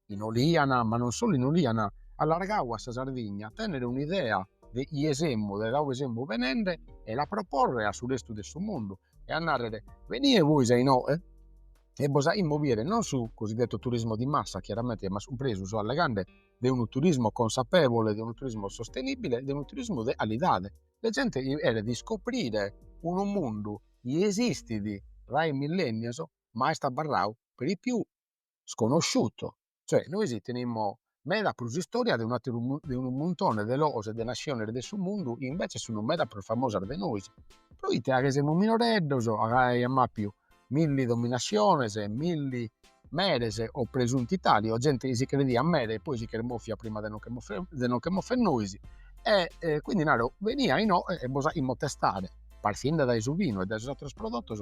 in Oliana, ma non solu in Oliana, allargau a sa Sardigna, tènnere un'idea de ie semu, de da ube semu benende e la proporre a su restu de su mundu e a nàrrere, benie bois a inoghe e bos aimus biere non su cosiddetto turismo di massa, chiaramente, ma su presu allegande de unu turismo consapevole, de unu turismo sostenibile, de unu turismo de calidade. De zente chi cheret iscoprire unu mundu chi esistit dae millennios, ma est abarrau per lo più sconosciuto, cioè nois tenimo meda prus istoria de un'ateru de unu muntone de logos e de nasciones de su mundu chi invece sun meda prus famosas de nois, proite a che semus minoreddos a gai amo apiu milli dominasciones e milli meres o presunti tali o gente chi si crediat mere e poi si che moffiat prima de nos che moffere de nos che moffer nois e e quindi naro benie a inoghe e bos aimo testare partinde dae su vinu e dae sos ateros prodottos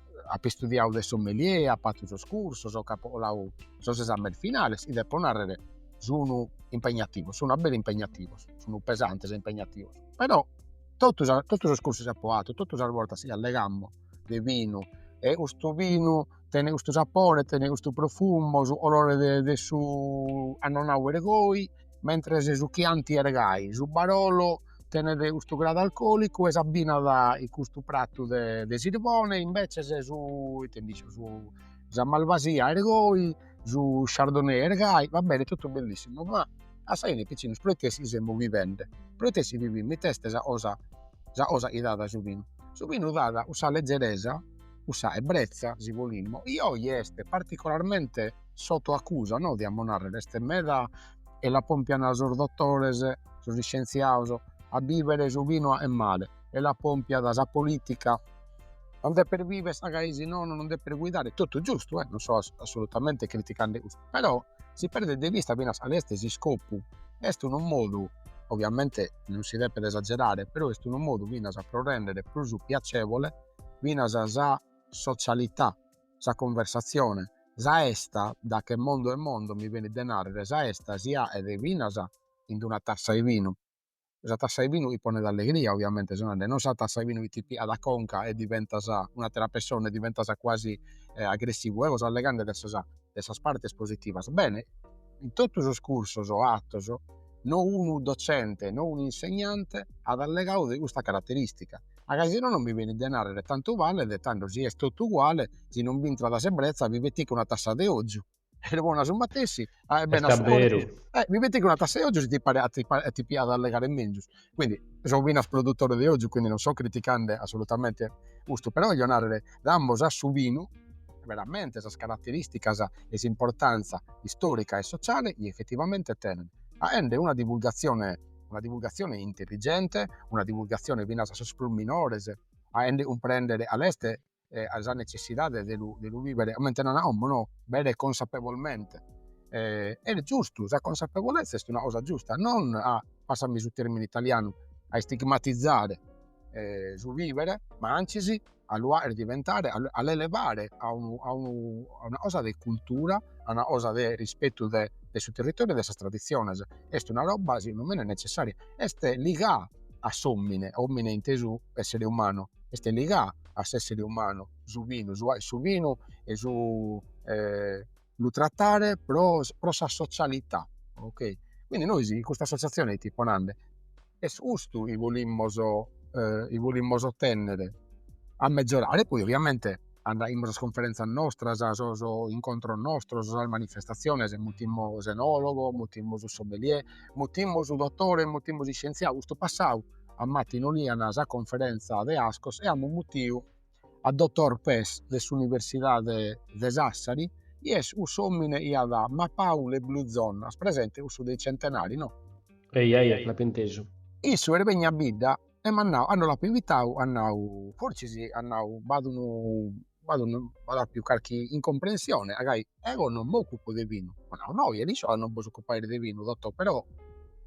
apo istudiadu de sommelier, apo fatu sos cursos, apo coladu sos esames finales chi depo narrer sun impegnativos, sun abbere impegnativos, sun pesantes e impegnativos, però totu sa totu sos cursos chi apo fatu, totu sas bortas chi allegammo de binu e custu binu tenet custu sapore, tenet custu profumo, su colore de su annonau est goi mentres su Chianti est gai, su Barolo tenet custu gradu alcolicu e s'abbinat in custu pratu de de sirbone e invecias su ite ndi 'eciat su sa Malvasia est goi, su Chardonnay est gai, va bene totu bellissimu, ma a sa 'ine piccinos proite si semus vivende, proite si vivimus, ite est sa cosa sa cosa chi dat su vinu, su vinu dat cussa legeresa, cussa ebrezza si 'olimus, chi oi est particularmente sotto accusa no diamo narrer est meda e la pompian sos dottores sos iscientziados a bivere su vino est male e la pompiat sa politica non deppes vivere ca si nono non deppes guidare tottu giustu eh non so assolutamente criticande custu però si perdet de vista finas cale est s'iscopu est unu modu ovviamente non si deppet esagerare però est unu modu finas pro rendere prus piacevole finas sa socialità sa conversatzione, sa 'esta, da che mondo è mondo mi benit de nàrrere, sa 'esta si aet finas in d-una tassa 'e binu, sa tassa 'e binu chi ponet allegria, oviamente so nende, non sa tassa 'e binu chi ti piat a conca e diventas un'àtera pessone, diventas cuasi agressivu, eo so allegande de sas de sas partes positivas, bene, in totu sos cursos o atos, no unu docente, no un'insegnante at allegau de custa carateristica. Ma ca si no non mi benit de narrere tantu valet tando si est totu uguale si non b'intrat s'ebbrezza mi pettico una tassa de ozu e lu pone a su matessi aet bene a su corpus e mi pettico una tassa 'e ozu si ti paret a ti a ti piat a allegare menzus quindi so finas produtore de ozu quindi non so criticande assolutamente custu però 'ollo narrere damos a su vinu veramente sas caratteristicas e s'importanza istorica e sociale chi effettivamente tenet aende una divulgazione una divulgatzione intelligente, una divulgatzione finas a sos prus minores, aende cumprendere a leste sa netzessidade de lu de lu vivere, comente nan como no, bere consapevolmente. Est giustu, sa consapevolezza est una cosa giusta, non a, passami su termine italiano, a istigmatizare su vivere, ma anzis a lu aer diventare a l'elevare a unu a unu a una cosa de cultura a una cosa de rispettu de de su territoriu e de sas tradiziones est una robba segundu mene nezzessaria est ligà a s'omine omine intesu essere umanu est ligà a s'essere umanu su binu su a su binu e su lu trattare pro, pro sa socialità, ok, quindi nois in custa associazione ite ipo nande, est custu chi bolimos, chi bolimos otennere, a megiorare, poi ovviamente aimus sas conferenzas nostras, sos incontros nostros, sas manifestaziones, mutimus s'enologo, mutimus su sommelier, mutimus su dottore, mutimus s'iscienziadu, custu passau am'atu in Oliana sa conferenza de Ascos e amus mutiu a dotor Pes de s'Universidade de Sassari, chi est cussu omine chi at mapau le blue zonas, presente cussu dei centenari, no? Eja eja, l'apo intesu. Issu est benniu a bidda e m'at nau, cando l'apo invitau, at nau, fortzis at nau, b'at unu, b'at unu, b'at apiu carchi incomprensione, agai Eo non m'occupo de vinu. Apo nau, no, già l'isco ca non bos occupais de vinu, dotò, però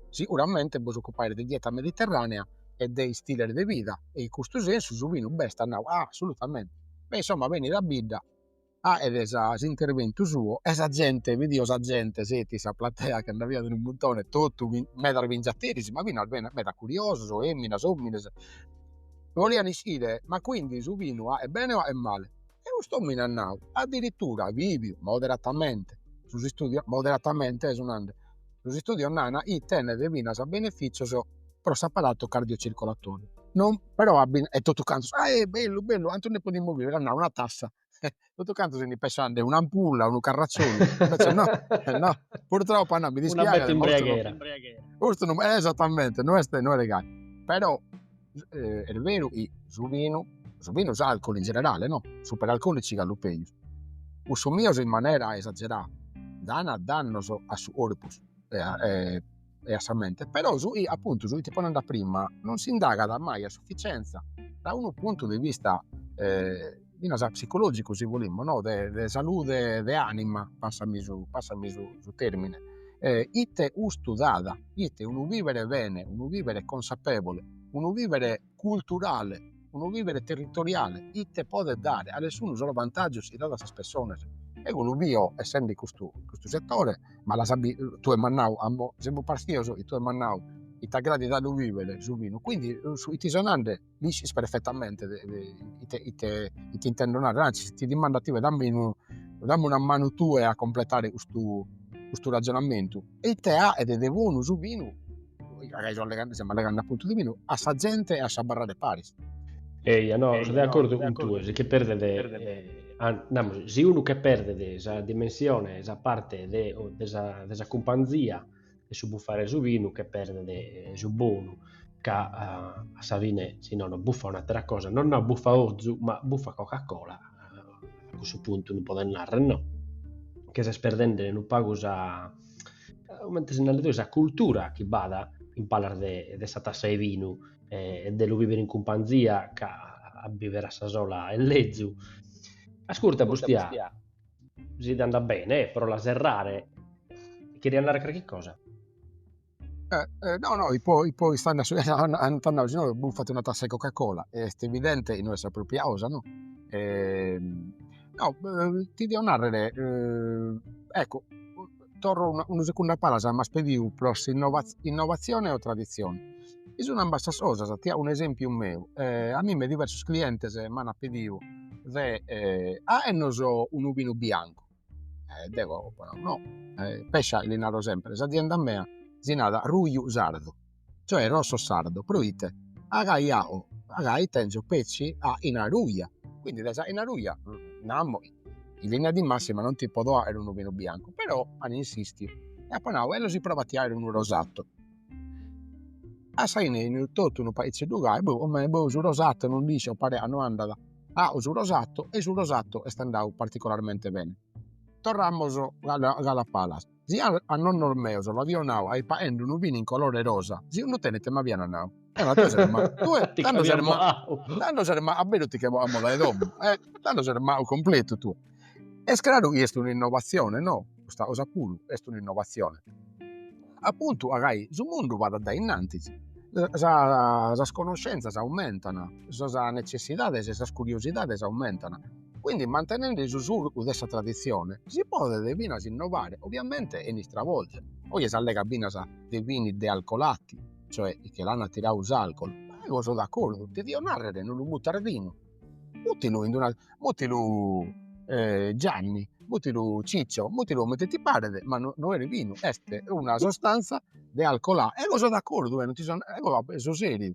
siguramente bos occupais de dieta mediterranea e de istiles de vida e in custu sensu su vinu b'est, at nau, ah, assolutamente. E insomma benit a bidda a faghere sa s'interventu suo e sa zente, bidio sa zente, seti sa platea chi nd'aviat unu muntone, totu medas bingiateris, ma finas medas curiosos, feminas, omines, bolian iscire, ma quindi su vinu est bene o est male e cust'omine at nadu addirittura viviu moderatamente sos istudios moderatamente so nande sos istudios nana chi tenet finas benefitzios pro s'apparatu cardiocircolatoriu non però at e totu cantos ahè bellu bellu cantu nde podimus viver at nadu una tassa e totu cantos si nde pessaian un'ampulla unu carrazzolu invece no no purtroppo at nadu mi dispiaghet custu non est esattamente no est no est gai però Est beru chi su binu, su binu s'alcol in generale no, superalcolici galu pejus, consumios in manera esagerada dan dannos a su corpus e a e a sa mente, però su chi appuntu su chi ti fipo nande prima non s'indagat mai a sufficienza da unu puntu de vista finas psicologicu si bolimus no de de salude de anima passami su passami su su termine e ite custu dat ite unu vivere bene unu vivere consapevole unu vivere culturale unu vivere territoriale ite podet dare a dessunu solu vantagiu si dat a sas pessonas eo lu bio essende in custu in custu settore ma l'as bi tue m'as nau amo semus pastios e tue m'as nau chi t'agradat a lu vivere su vinu quindi chi ti so nande L'iscis perfetamente ite ite ite intendo narrer, anzis ti dimando a tie, dammi unu dammi una manu tue a completare custu custu ragionamentu e ite aet de bonu su binu, agai so allegando semus allegando appuntu de binu, a sa zente e a s'abarrare paris. Eja no, so de accordu cun tue, si che perdet namus, si unu che perdet sa dimensione, sa parte de de sa de sa cumpanzia de su buffare su vinu che perdet eh, su bonu, ca eh, a sa fine si no no buffa un'atera cosa, non no buffa ozu, ma buffa Coca-Cola, eh, a cussu puntu non podet narrer no, che ses perdende un pagu sa, comente si narat sa cultura chi b'at in palas de, de sa tassa de vinu eh, e de lu vivere in cumpanzia, ca a vivere a sa sola est lezu. Ascurta, Bustia, Si t'andat bene, eh, pro la serrare. Cheriat narrer carchi cosa? Eh, eh, no, no, ipo, ipo ist'anna su- an- ant nau, si unu bufat una tassa 'e Coca-Cola, e est evidente chi no est sa propria osa, no? Ehm, no, ti dio narrer, eh, ecco, torro unu segundu a palas m'as pediu pro s'innovatzione o traditzione, chi sun ambas sas cosas, ti ao un'esempiu meu, a mimme diversos clientes m'an pediu de aernos unu binu biancu e deo apo nadu no, pescia li naro sempre, s'azienda mea si narat Ruju Sardu cioè rosso sardo, proite a gai iau a gai tenzo petzi aina ruja, quindi de s'aina ruja namo in linea di massima non ti podo aer unu vinu biancu, però an insistiu e apo nau ello si probo a ti aer unu rosato, a sa 'ine enin totu unu paizzeddu gai, boh omei boh su rosato non nd'iscio paria no andat, au su rosato e su rosato est andau particolarmente bene, torramos galu a palas Si a a nonnos meos l'avio nau a ipo aende unu vinu in colore rosa, siuramente m'avian nau, Eva tue ses ma tue Ti tando ses ma moau. tando ses mau a beru ti che a moda 'e domo e tando ses mau completu tue. Est craru chi est un'innovatzione, no? Custa cosa puru est un'innovatzione. Apuntu a gai su mundu andat dae innantis, sa sas conoscenzas aumentan, sas necessidades e sas curiosidades aumentan Quindi mantenende su surcu de sa traditzione si podet finas innovare, obiamente chene istravolger. Oje s'allega finas de vini dealcolati, cioè chi che l'ana tiradu s'alcol, ego so d'accordu, devio narrere no lu mutas binu, mutilu in d'una mutilu Gianni, mutilu Ciccio, mutilu comente ti paret, ma no no est binu, est una sostanza dealcolà, ego so d'accordu, ego so seriu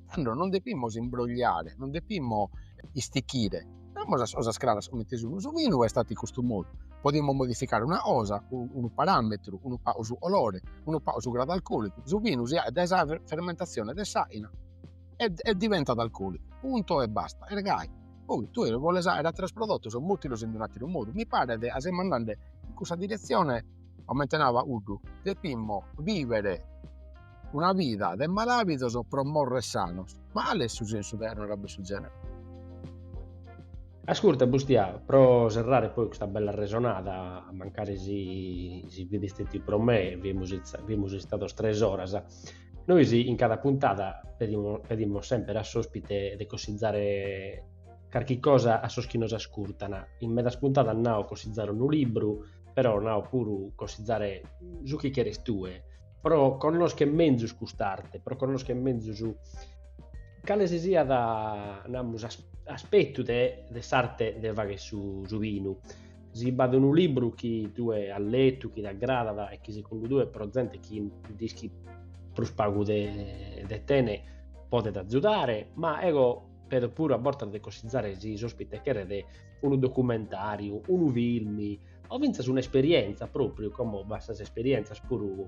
Tando non depimus imbrogliare, non depimus istichire, namus as cosas craras comente sun, su vinu est fatu in custu modu, podimus modificare una cosa, unu parametru, unu pagu su colore, unu pagu su gradu alcolicu, su vinu si aet dae sa fermentazione de s'aina e e diventat alcolicu, punto e basta, e gai, poi tue si boles aer ateros prodotos mutilos in un'ateru modu, mi paret chi semus andende in cussa diretzione, comente nau Paghuddu, depimus biver una vida de malàvidos pro morrer sanos, ma cale est su sensu de àrrere a bessu genere? Ascurta Bustià, pro serrare poi custa bella arresonada, mancari si fit istetiu pro me, fimus istados tres oras, nois in cada puntada pedimus semper a s'ospite de cossizzare carchi cosa a sos chi nos ascurtan, in medas puntadas nao cossizzare unu libru, però nao puru cossizzare su chi cheres tue, pro connoschere menzus cust'arte, pro connoschere menzus cale si siat, namus, aspetu de de s'arte de fagher su su binu. Si b'at unu libru chi tue as letu, chi t'agradat e chi segundu tue pro zente chi nd'ischit prus pagu de de tene podet azudare, ma eo pedo puru a bortas de cossizare si s'ospite cheret unu documentàriu, unu filmi o fintzas un'esperienza propriu, como b'at sas esperienzas puru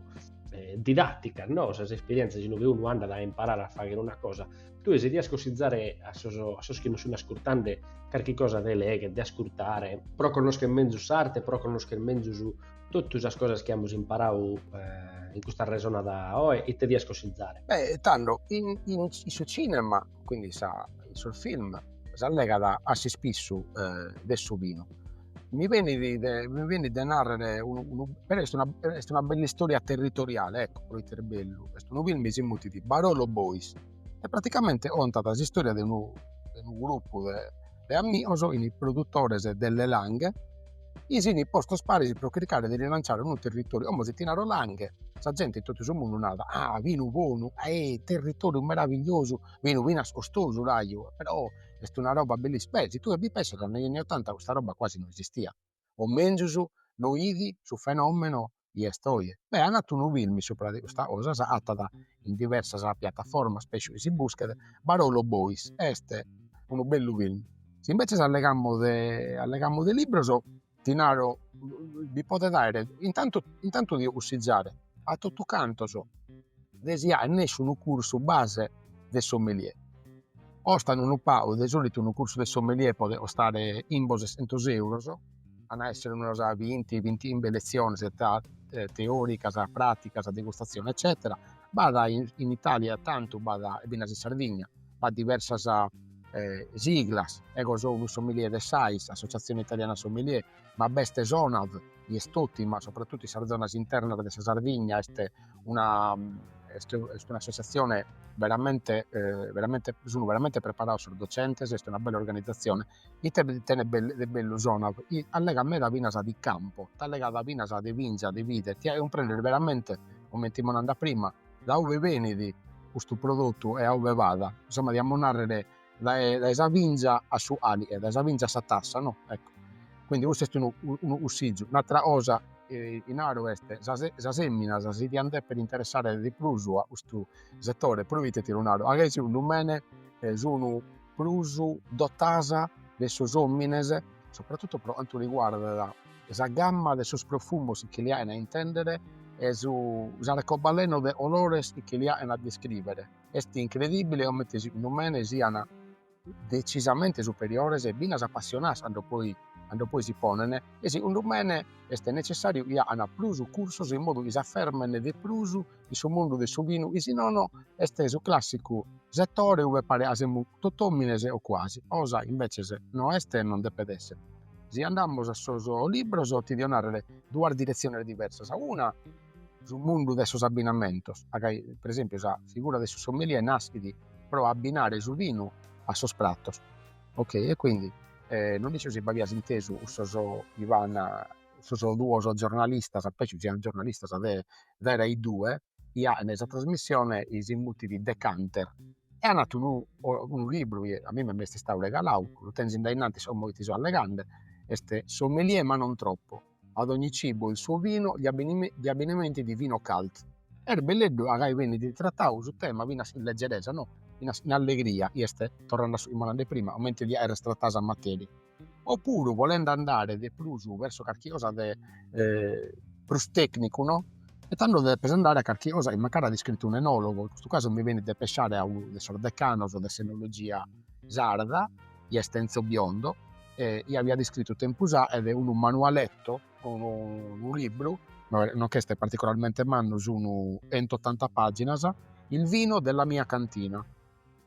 eh, didatticas, no? sas esperienzas in ue unu andat a imparare a faghere una cosa, tue si dias cossizare a sos, a sos chi nos sun ascurtande carchi cosa de legher, de ascurtare, pro connoscher menzus s'arte, pro connoscher menzus totu sas cosas chi amus imparadu eh, in custa resonada oe, ite dias cossizare? Beh, tando, in, in, in su cinema quindi in sos film s'allegat a s'ispissu de su vinu. Mi benit de mi benit de narrer unu unu però est una est una bell'istoria territoriale ecco proite est bellu, est unu film chi si mutit Barolo Boys e praticamente contat s'istoria de unu de unu gruppu de de amigos fin produtores delle Langhe chi si fin postos paris pro chircare de rilanciare unu territoriu, como si ti naro Langhe, sa gente in totu su mundu narat, ah vinu bonu, eh territoriu meravigliosu, vinu finas costosu raju, però est una roba bellissi-, beh si tue bi pessas negli anni ottanta custa roba quasi no esistiat, o menzus no fit su fenomeno chi est oje, beh an fatu unu filmi supra de custa cosa, s'agatat in diversas piattaformas pesso chi si buschet, Barolo Boys, est unu bellu filmi, si inveces allegamus de allegamus de libros ti naro bi podet aer intantu intantu dio cussizare a totu cantos de si fagher nessi unu cursu base de sommelier. Costat unu pagu, de solitu unu cursu de sommelier podet costare chimbe sescentos euros, an a essere unas binti bintichimbe leziones tra teoricas, praticas, degustazione eccetera, b'at in Italia tantu b'at e finas in Sardigna, b'at diversas siglas, ego so unu sommelier de s'AIS, Associazione Italiana Sommelier, ma b'est s'ONAV, chi est ottima sopratutu in sas zonas internas de sa Sardigna est una est est un'associazione veramente veramente sun veramente preparados sos docentes, est una bella organizzazione, ite tenet de bellu s'ONAV, chi allegat meda finas de campo, t'allegat finas de vinza, de vide, ti faghet cumprender veramente, comente fimus nande prima, da ue benit custu prodottu e a ue faghet, insomma diamus narrer dae dae sa vinza a su caliche dae sa vinza a sa tassa no ecco quindi custu est unu unu cussizu un'attra cosa chi naro est sa sas emminas si diant deppere interessare de prus a custu settore pro ite ti lu naro ancai segundu mene sunu prus dotadas de sos omines sopratutto pro cantu riguardat sa gamma de sos profumos chi li ain a intendere e su s'arcobaleno de colores chi li ain a descrivere Est incredìbile comente segundu mene siant detzisamente superiores e finas apassionadas cando poi si ponen e segundu mene est netzessàriu chi agan prus cursos in modu chi s'afermen de prus in su mundu de su binu chi si nono est su clàssicu setore ue paret ca semus totu òmines o cuasi. Cosa chi imbetzes no est e non depet èssere. Si andamus a sos libros ti dio nàrrere duas diretziones diversas, una Su mundu de sos abbinamentos, agai pre esempiu sa figura de su sommelier naschit pro abbinare su vinu a sos pratos, ok e quindi non isco si b'avias intesu cussos chi fan cussos duos giornalistas, pesso sian giornalistas de de Rai due, chi an sa trasmissione chi si mutit Decanter e an atu unu libru chi a mimme m'est istadu regalau, lu tenzo in dae innantis como chi ti so allegande, est Sommelier ma non troppo Ad ogni cibo il suo vino, gli abbinamenti di Vinocult. Est belleddu a gai benit tratau su tema finas in leggeresa, no, finas in allegria, chi est, torrende a su chi immo nande prima, comente diat essere tratada sa materia. Opuru, bolende andare de prus verso carchi cosa de prus tecnicu, no, e tando depes andare a carchi cosa chi mancari at iscrittu un enologo, in custu casu mi benit de pesciare a unu de sos decanos de s'enologia sarda, chi est Enzo Biondo chi aviat iscritu tempus aet unu manualetto, unu libru, no ch'est particularmente mannu, sunu chentottanta paginas, Il vino della mia cantina,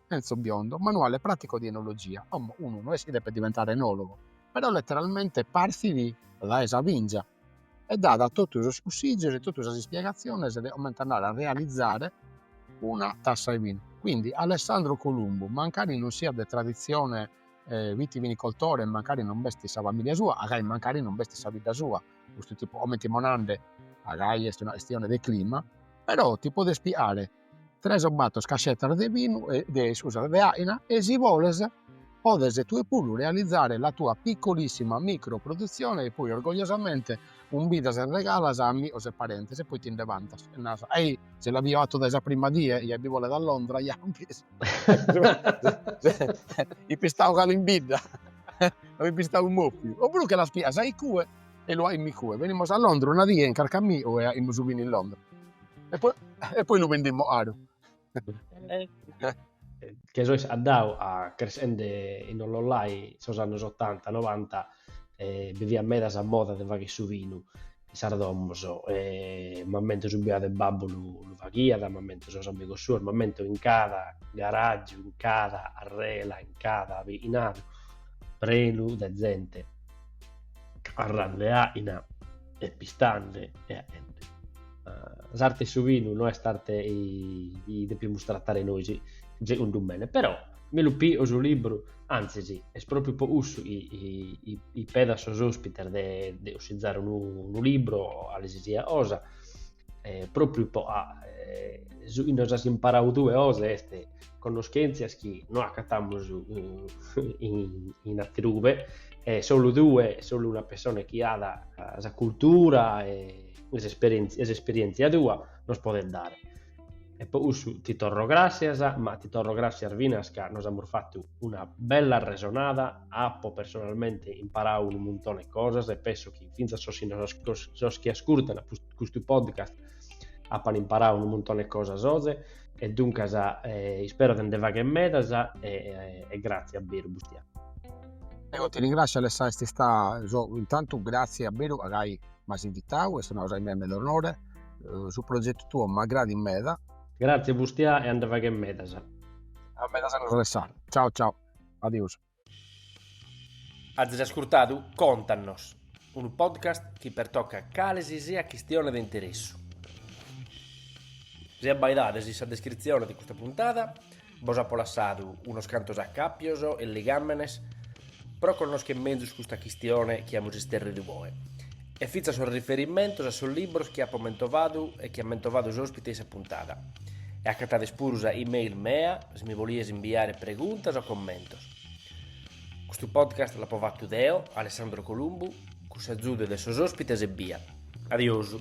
Enzo Biondo, manuale pratico di enologia, como unu no est chi depet diventare enologo, però letteralmente partit dae sa vingia, e dat totu sos cussìgios e totu sas ispiegatziones de comente andare a realizare una tassa 'e binu. Quindi Alessandro Columbu, mancari non siat de traditzione vitivinicoltore e mancari non b'est sa familia sua, agai mancari non b'est sa bidda sua, custu tipu, comente immo nande agai est una chistione de clima, però ti podes piare tres o bator cascetas de binu de iscusas de aina e si boles podes tue puru realizare la tua piccolissima micro produzione e poi orgogliosamente umbidas e regalas a amigos e parentes e poi ti nde vantas e naras ah si l'avio atu dae sa prima die e bi bolet a Londra ja hi pistau cale in bidda no hi pistau mopiu opuru che las pias a in cue e lu ahi mi cue benimos a Londra una die chin carchi amigu e aimus binu in Londra E poi, e poi lu vendimus 'aru. che sois andadu a crescende in Ollolai sos annos ottanta, novanta e bi fiat meda sa moda de fagher su vinu in sas domos e m'ammento su biadu de babbu lu, lu faghiat, m'ammento sos amigos suos, m'ammento in cada garàgiu, in cada 'arrela, in cada bi'inadu prenu de zente 'arrande à'ina e pistande e 'aende. eh, s'arte 'e su vinu no est arte chi depimus tratare nois, segundu mene, però me lu pi'o su libru, antzis, est propriu po cussu chi pedo a sos ospites de, de 'ossizare unu, unu libru o 'alesisiat 'osa, eh, propriu po 'a, eh, su chi nos as imparau tue oze est conoschentzias chi no acatamus in, in, in aterube, e solu tue, solu una persona chi at eh, sa cultura e e s'esperièntzia tua nos podet dare. E po cussu ti torro gràssias, ma ti torro gràssias finas ca nos amus fatu una bella arresonada, apo personalmente imparadu unu muntone 'e cosas e penso chi fintzas sos chi ascurtant custu podcast apan imparadu unu muntone 'e cosas oze e duncas ispero de nde fagher medas e gràtzias a beru Bustià. Eo ti ringràssio Alessà, est istada, intantu gràtzias a beru a gai m'as invitau, est una cosa chi mi 'aet meda onore, su progetu tuo m'agradit meda. Gratzias Bustià e a nde fagher medas. A medas annos Alessà. Ciao ciao. Adiosu. Azis ascurtadu Contanos, unu podcast chi pertocat cale si siat chistione de interessu. Si abbaidades in sa descritzione de custa puntada. Bos apo lassadu unos cantos acàpios e ligàmenes pro connoschere mezus custa chistione chi amus isterridu oe e fintzas sos riferimentos a sos libros chi apo mentovadu e chi at mentovadu s'òspite in sa puntada. E acatades puru sa e-mail mea si mi bolides imbiare preguntas o commentos. Custu podcast l'apo fatu deo, Alessandro Columbu, cun s'azudu de sos òspites ebbia. Adiosu.